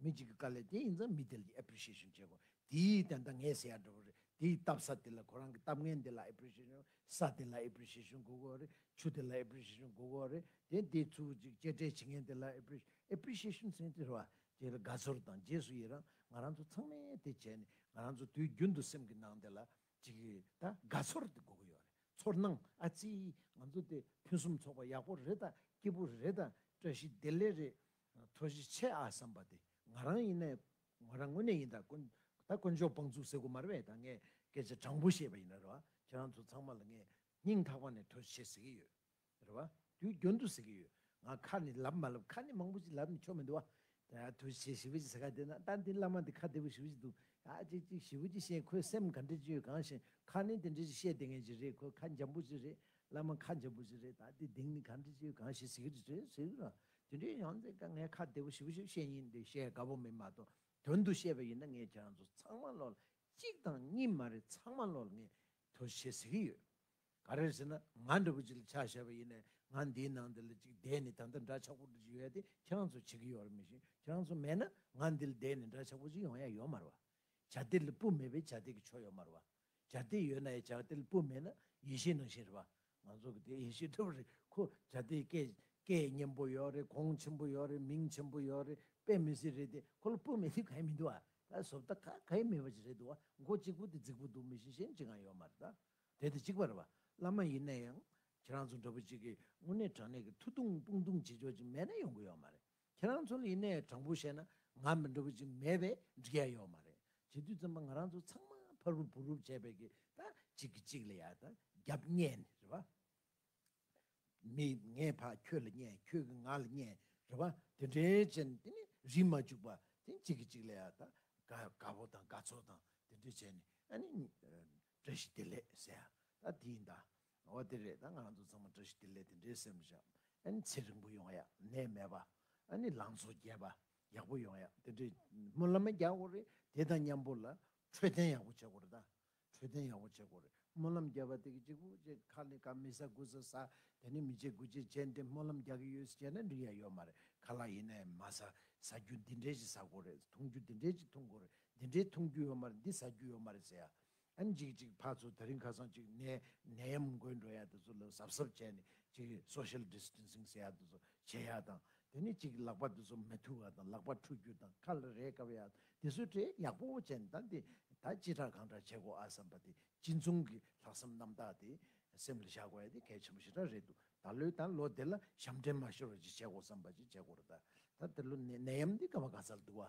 མི་གཅིག་གི་དཀའ་ལས་དེ་ཡིན་ཙང་མི་དེ་ལ་ཀྱི Appreciation བྱེད་དགོས། དེའི་སྟེང་དང་ངས་ཟེར་ཡག་འགྲོ་བ་རེད། དེའི་བཏབ་ས་དེ་ལ་ཁོ་རང་གི་བཏབ་ངན་དེ་ལ Appreciation ས་དེ་ལ Appreciation དགོས་གོ་རེད། ཆུ་དེ་ལ Appreciation དགོས་གོ་རེད། དེ་དེའི་ཚུར་གཅིག་གཅེས་སྤྲས་བྱེད་ངན་དེ་ལ Appreciation ཟེར་དེ་རེད་བ། དེ་ལ་དགའ་ཚོར་དང་རྗེས་སུ་ཡི་རང་ང་རང་ཚོ་ཚང་མས་དེ་བྱས་ནས་ང་རང་ཚོ་དུས་རྒྱུན་དུ་སེམས་ཀྱི་ནང་དེ་ལ་གཅིག་ད་དགའ་ཚོར་དེ་དགོས་གོ་ཡོད་རེད། ཚོར་སྣང་ཨ་ཙི། ང་ཚོ་དེ་ཕུན་སུམ་ཚོགས་པ་ཡག་པོ་རེད་ད་སྐྱིད་པོ་རེད་ད་བཀྲ་ཤིས་བདེ་ལེགས་རེད། མཐོ་བཞི་ཆེ་ཨ་བསམ་པ་དེ་ང་རང་ཡིན་ནའི་ངོ་རང་དངོས་གནས་ཡིན་ད་ཀོན་ད་དཀོན་མཆོག་དཔང་བཙུགས་ཟེར་དགོས་མ་རེད་བས་ད་ངས་སྐད་ཆ་དྲང་པོ་བཤད་པ་ཡིན་རེད་བ་ཁྱེད་རང་ཚོ་ཚང་མ་ལ་ངས་སྙིང་ཐག་པ་ནས་མཐོ་བཞི་ཆེ་ཟེར་གི་ཡོད་རེད་བ་དུས་རྒྱུན་དུ་ཟེར་གི་ཡོད་ང་ཁ་ནས་ལབ་མ་ལབ་ཁ་ནས་མང་པོ་ཞིག་ལབ་ནས་ཆོ་མི་འདུག་བ་ད་མཐོ་བཞི་ཆེ་ཞི་བ་ཅིག་ཟེར་ཁ་དེ་ན་ཏན་ཏན་བླ་མ་འདི་ཁ་བདེ་པོ་ཞི་བ་ཅིག་འདུག་ཨ་ཅིག་གཅིག་ཞི་བ་ཅིག་བཤད་ཁོས་སེམས་ག་འདྲི་ཅི་ཡོད་གང་ཤེས་ཁ་ནས་དེ་འདྲི་ཅིག་བཤད་དེ་ངན་ཅིག་རེད་ཁོས་ཁ་འཇམ་པོ་ཅིག་རེད་བླ་མ་ཁ་འཇམ་པོ་ཅིག་རེད་ད་དེ་དེང་ནས་ག་འདྲི་ཅི་ཡོད་གང་ཤེས་ཟེར་གི་རེད་ཟེར་གི་རེད་བ་དེ་འདྲའི་ཡང་ཚེ་དཀའ་ངལ་ཁ་བདེ་བོ་ཞིག་བཞུགས་བཤད་ཡིན་འདི་བཤད་དགའ་བོ་མིན་མ་གཏོགས་དོན་དུ་བཤད་པ་ཡིན་ན་ངས་ཁྱེད་རང་ཚོ་ཚང་མ་བློ་ལ་གཅིག་དང་གཉིས་མ་རེད་ཚང་མ་བློ་ལ་ངས་དོ་ཞེས་ཟེར་གྱི་ཡོད། ག་རེ་ཟེར་ན་ང་འདྲ་བོ་ཅིག་ལ་ཆ་བཞག་པ་ཡིན་ནས་ང་འདིའི་ནང་འདི་ལ་ཅིག་བསྡད་ནས་ད་ལྟ་འདྲ་ཆགས་པོ་འདྲ་ཅིག་ཡོད་དེ་ཁྱེད་རང་ཚོ་བྱེད་ཀྱི་ཡོད་རེད་མི་ཤེས་ཁྱེད་རང་ཚོ་མེད་ན་ང་འདི་ལ་བསྡད་ནས་འདྲ་ཆགས་པོ་ཅིག་ཡོང་ཡ་ཡོད་མ་རེད་བ། བྱ་སྡེར་ལ་སྤུ་མེད་པའི་བྱ་སྡེར་གྱི་ཆོ་ཡོད་མ་རེད་བ། བྱ་དེ་ཡོད་ན་ཡང་བྱ་དེ་ལ་སྤུ་མེད་ན་ཡེ་ཤེས་ནང་བཞིན་རེད་པ། ང་ཚོ་གི་དེ་ཡེ་ཤེས་འཁྲུལ་པ་རེད་ཁོ། བྱ་དེ་སྐད། སྐད་སྙན་པོ་ཡོད་རེད་གོང་ཆེན་པོ་ཡོད་རེད་མིང་ཆེན་པོ་ཡོད་རེད་དཔེ་མི་སྲིད་རེད་དེ་ཁོ་ལ་སྤུ་མེད་དུས་གང་ཡང་མི་འདུག་ཨ། ད་བཟོ་བལྟ་ཁ་གང་ཡང་མེད་པ་ཅིག་རེད་འདུག་ཨ་མགོ་གཅིག་པོ་དེ་རྫིག་པོ་འདུག་མི་གཞན་གཞན་གཅིག་གང་ཡང་ཡོད་མ་རེད་ད། དེ་དང་གཅིག་པ་རེད་པ། བླ་མ་ཡིན་ན་ཡང། ཁྱེད་རང་ཚོ་འདྲ་པོ་གཅིག་གིས་དངོས་གནས་དྲང་གནས་ཀྱི་ཐུགས་དུང་དཔུང་དུང་བྱེད་ཆོག་ཅིག་མེད་ན་ཡོང་གི་ཡོད་མ་རེད། ཁྱེད་རང་ཚོ་ལ་ཡིན་ནས་དྲང་པོ་བཤད་ན་ང་མི་འདྲ་བོ་ཅིག་མེད་པས་འགྲིག་ཡ་ཡོད་མ་རེད་བྱེད་དུས་ཙམ་པ་ང་རང་ཚོ་ཚང་མ་ཕ་རུབ་བུ་རུབ་བྱས་པའི་གི་ད་གཅིག་གི་གཅིག་ལ་ཡ་ད་རྒྱབ་བསྙད་ནི་རེད་བ། མི་ངས་ཕ་ཁྱོད་ལ་བསྙད་ཁྱོད་ཀྱི་ང་ལ་བསྙད་རེད་བ་དེ་འདྲའི་བྱས་ནི་དེ་ནི་རིན་མ་བཅུག་པ་དེ་གཅིག་གི་གཅིག་ལ་ཡ་ད་དགའ་བོ་དང་དགའ་ཚོར་དང་དེ་འདྲ་བྱས་ནི་ཨ་ནི་བཀྲ་ཤིས་བདེ་ལེགས་ཟེར་ཡ་ད་དེ་ཡིན་ད་ང་བ་འདི་རེད་ད་ང་ཚོ་ཚང་མ་བཀྲ་ཤིས་བདེ་ལེགས་དེ་འདྲའི་སེམས་བཞག་ཨ་ནི་ཚེ་རིང་པོ་ཡོང་ཡ་ནད་མེད་པ་ཨ་ནི་ལང་ཚོ་རྒྱས་པ་ཡག་པོ་ཡོང་ཡ་དེ་འདྲའི་སྨོན་ལམ་མ་རྒྱག་དགོས་རེད་དེ་དང་མཉམ་པོ་ལ་འཕྲོད་བསྟེན་ཡག་པོ་བྱེད་དགོས་རེད་ད་འཕྲོད་བསྟེན་ཡག་པོ་བྱེད་དགོས་རེད་སྨོན་ལམ་རྒྱབ་པ་དེ་གི་གཅིག་པུ་ཅེ་ཁ་ལི་ཁ་མི་ཟ་དགུ་ཟ་ཟ་དེ་ནི་མི་བྱེད་དགུ་བྱེད་བྱེད་འདི་སྨོན་ལམ་རྒྱག་གི་ཡོད་ཟེར་བྱས་ན་འགྲིག་ཡ་ཡོད་མ་རེད་ཁ་ལག་ཡིན་ན་ཡང་མ་ཟ་ཟ་རྒྱུ་འདི་འདྲའི་ཞིག་ཟ་དགོས་རེད་འཐུང་རྒྱུ་འདི་འདྲའི་ཞིག་འཐུང་དགོས་རེད་འདི་འདྲའི་འཐུང་རྒྱུ་ཡོད་མ་རེད་འདི་ཟ་རྒྱུ་ཡོད་མ་རེད་ཟེར་ཡ་ཨན་ཅིག་ཅིག་ཕ་ཚོ་ད་རིང་ཁ་སང་ཅིག་ནས་ནད་ཡམས་མགོན་འགྲོ་ཡ་དེ་ཚོ་ལ་གཟབ་གཟབ་བྱས་ནས་ཅིག Social Distancing ཟེར་ཡ་དེ་ཚོ་བྱེད་ཡ་དང་དེ་ནས་ཅིག་ལག་པ་དེ་ཚོ་མི་ཐུ་བ་དང་ལག་པ་འཁྲུ་རྒྱུ་དང་ཁ་ལ་རས་བཀབ་ཡ་དེ་ཚོ་གྲས་ཡག་པོ་བྱས་ནས་ད་འདི་ད་ཅི་དྲག་གང་དྲག་བྱེད་དགོ་ཨ་བསམ་པ་དེ་སྤྱི་མཚུངས་ཀྱི་ལྷག་བསམ་རྣམ་དག་དེ་སེམས་ལ་བཞག་དགོ་ཡ་དེ་གལ་ཆེན་པོ་ཞེ་དྲག་རེད་འདུག་ད་ལོའི་ད་ལོ་དེ་ལ་ཞབས་འདྲེན་མ་ཤོར་བ་ཅིག་བྱེད་དགོ་བསམ་པ་ཅིག་བྱེད་དགོ་རེད་ད་ད་དེ་ལོ་ནད་ཡམས་འདི་ག་བ་ག་ཚ་ལ་འདུག་བ་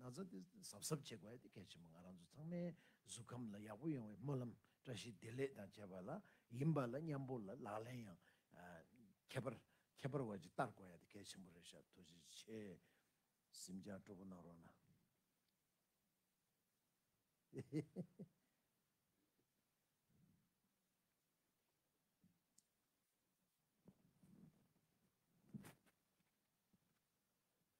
ན་ཚ་དེ་གཟབ་གཟབ་བྱེད་དགོས་དེ་གལ་ཆེན་པོ་ང་རང་ཚོ་ཚང་མའི་གཟུགས་ཁམས་ལ་ཡག་པོ་ཡོང་བའི་སྨོན་ལམ་བཀྲ་ཤིས་བདེ་ལེགས་དང་བཅས་པ་ལ་ཡིན་པ་ལ་མཉམ་པོ་ལ་ལག་ལེན་ཡང་ཁྱད་པར་ཁྱད་པར་བ་ཅིག་བསྟར་དགོས་ཡ་དེ་གལ་ཆེན་པོ་རེད་ཤག་ཐུགས་རྗེ་ཆེ། སེམས་ཅག་སྤྲོ་པོ་གནང་རོགས་གནང།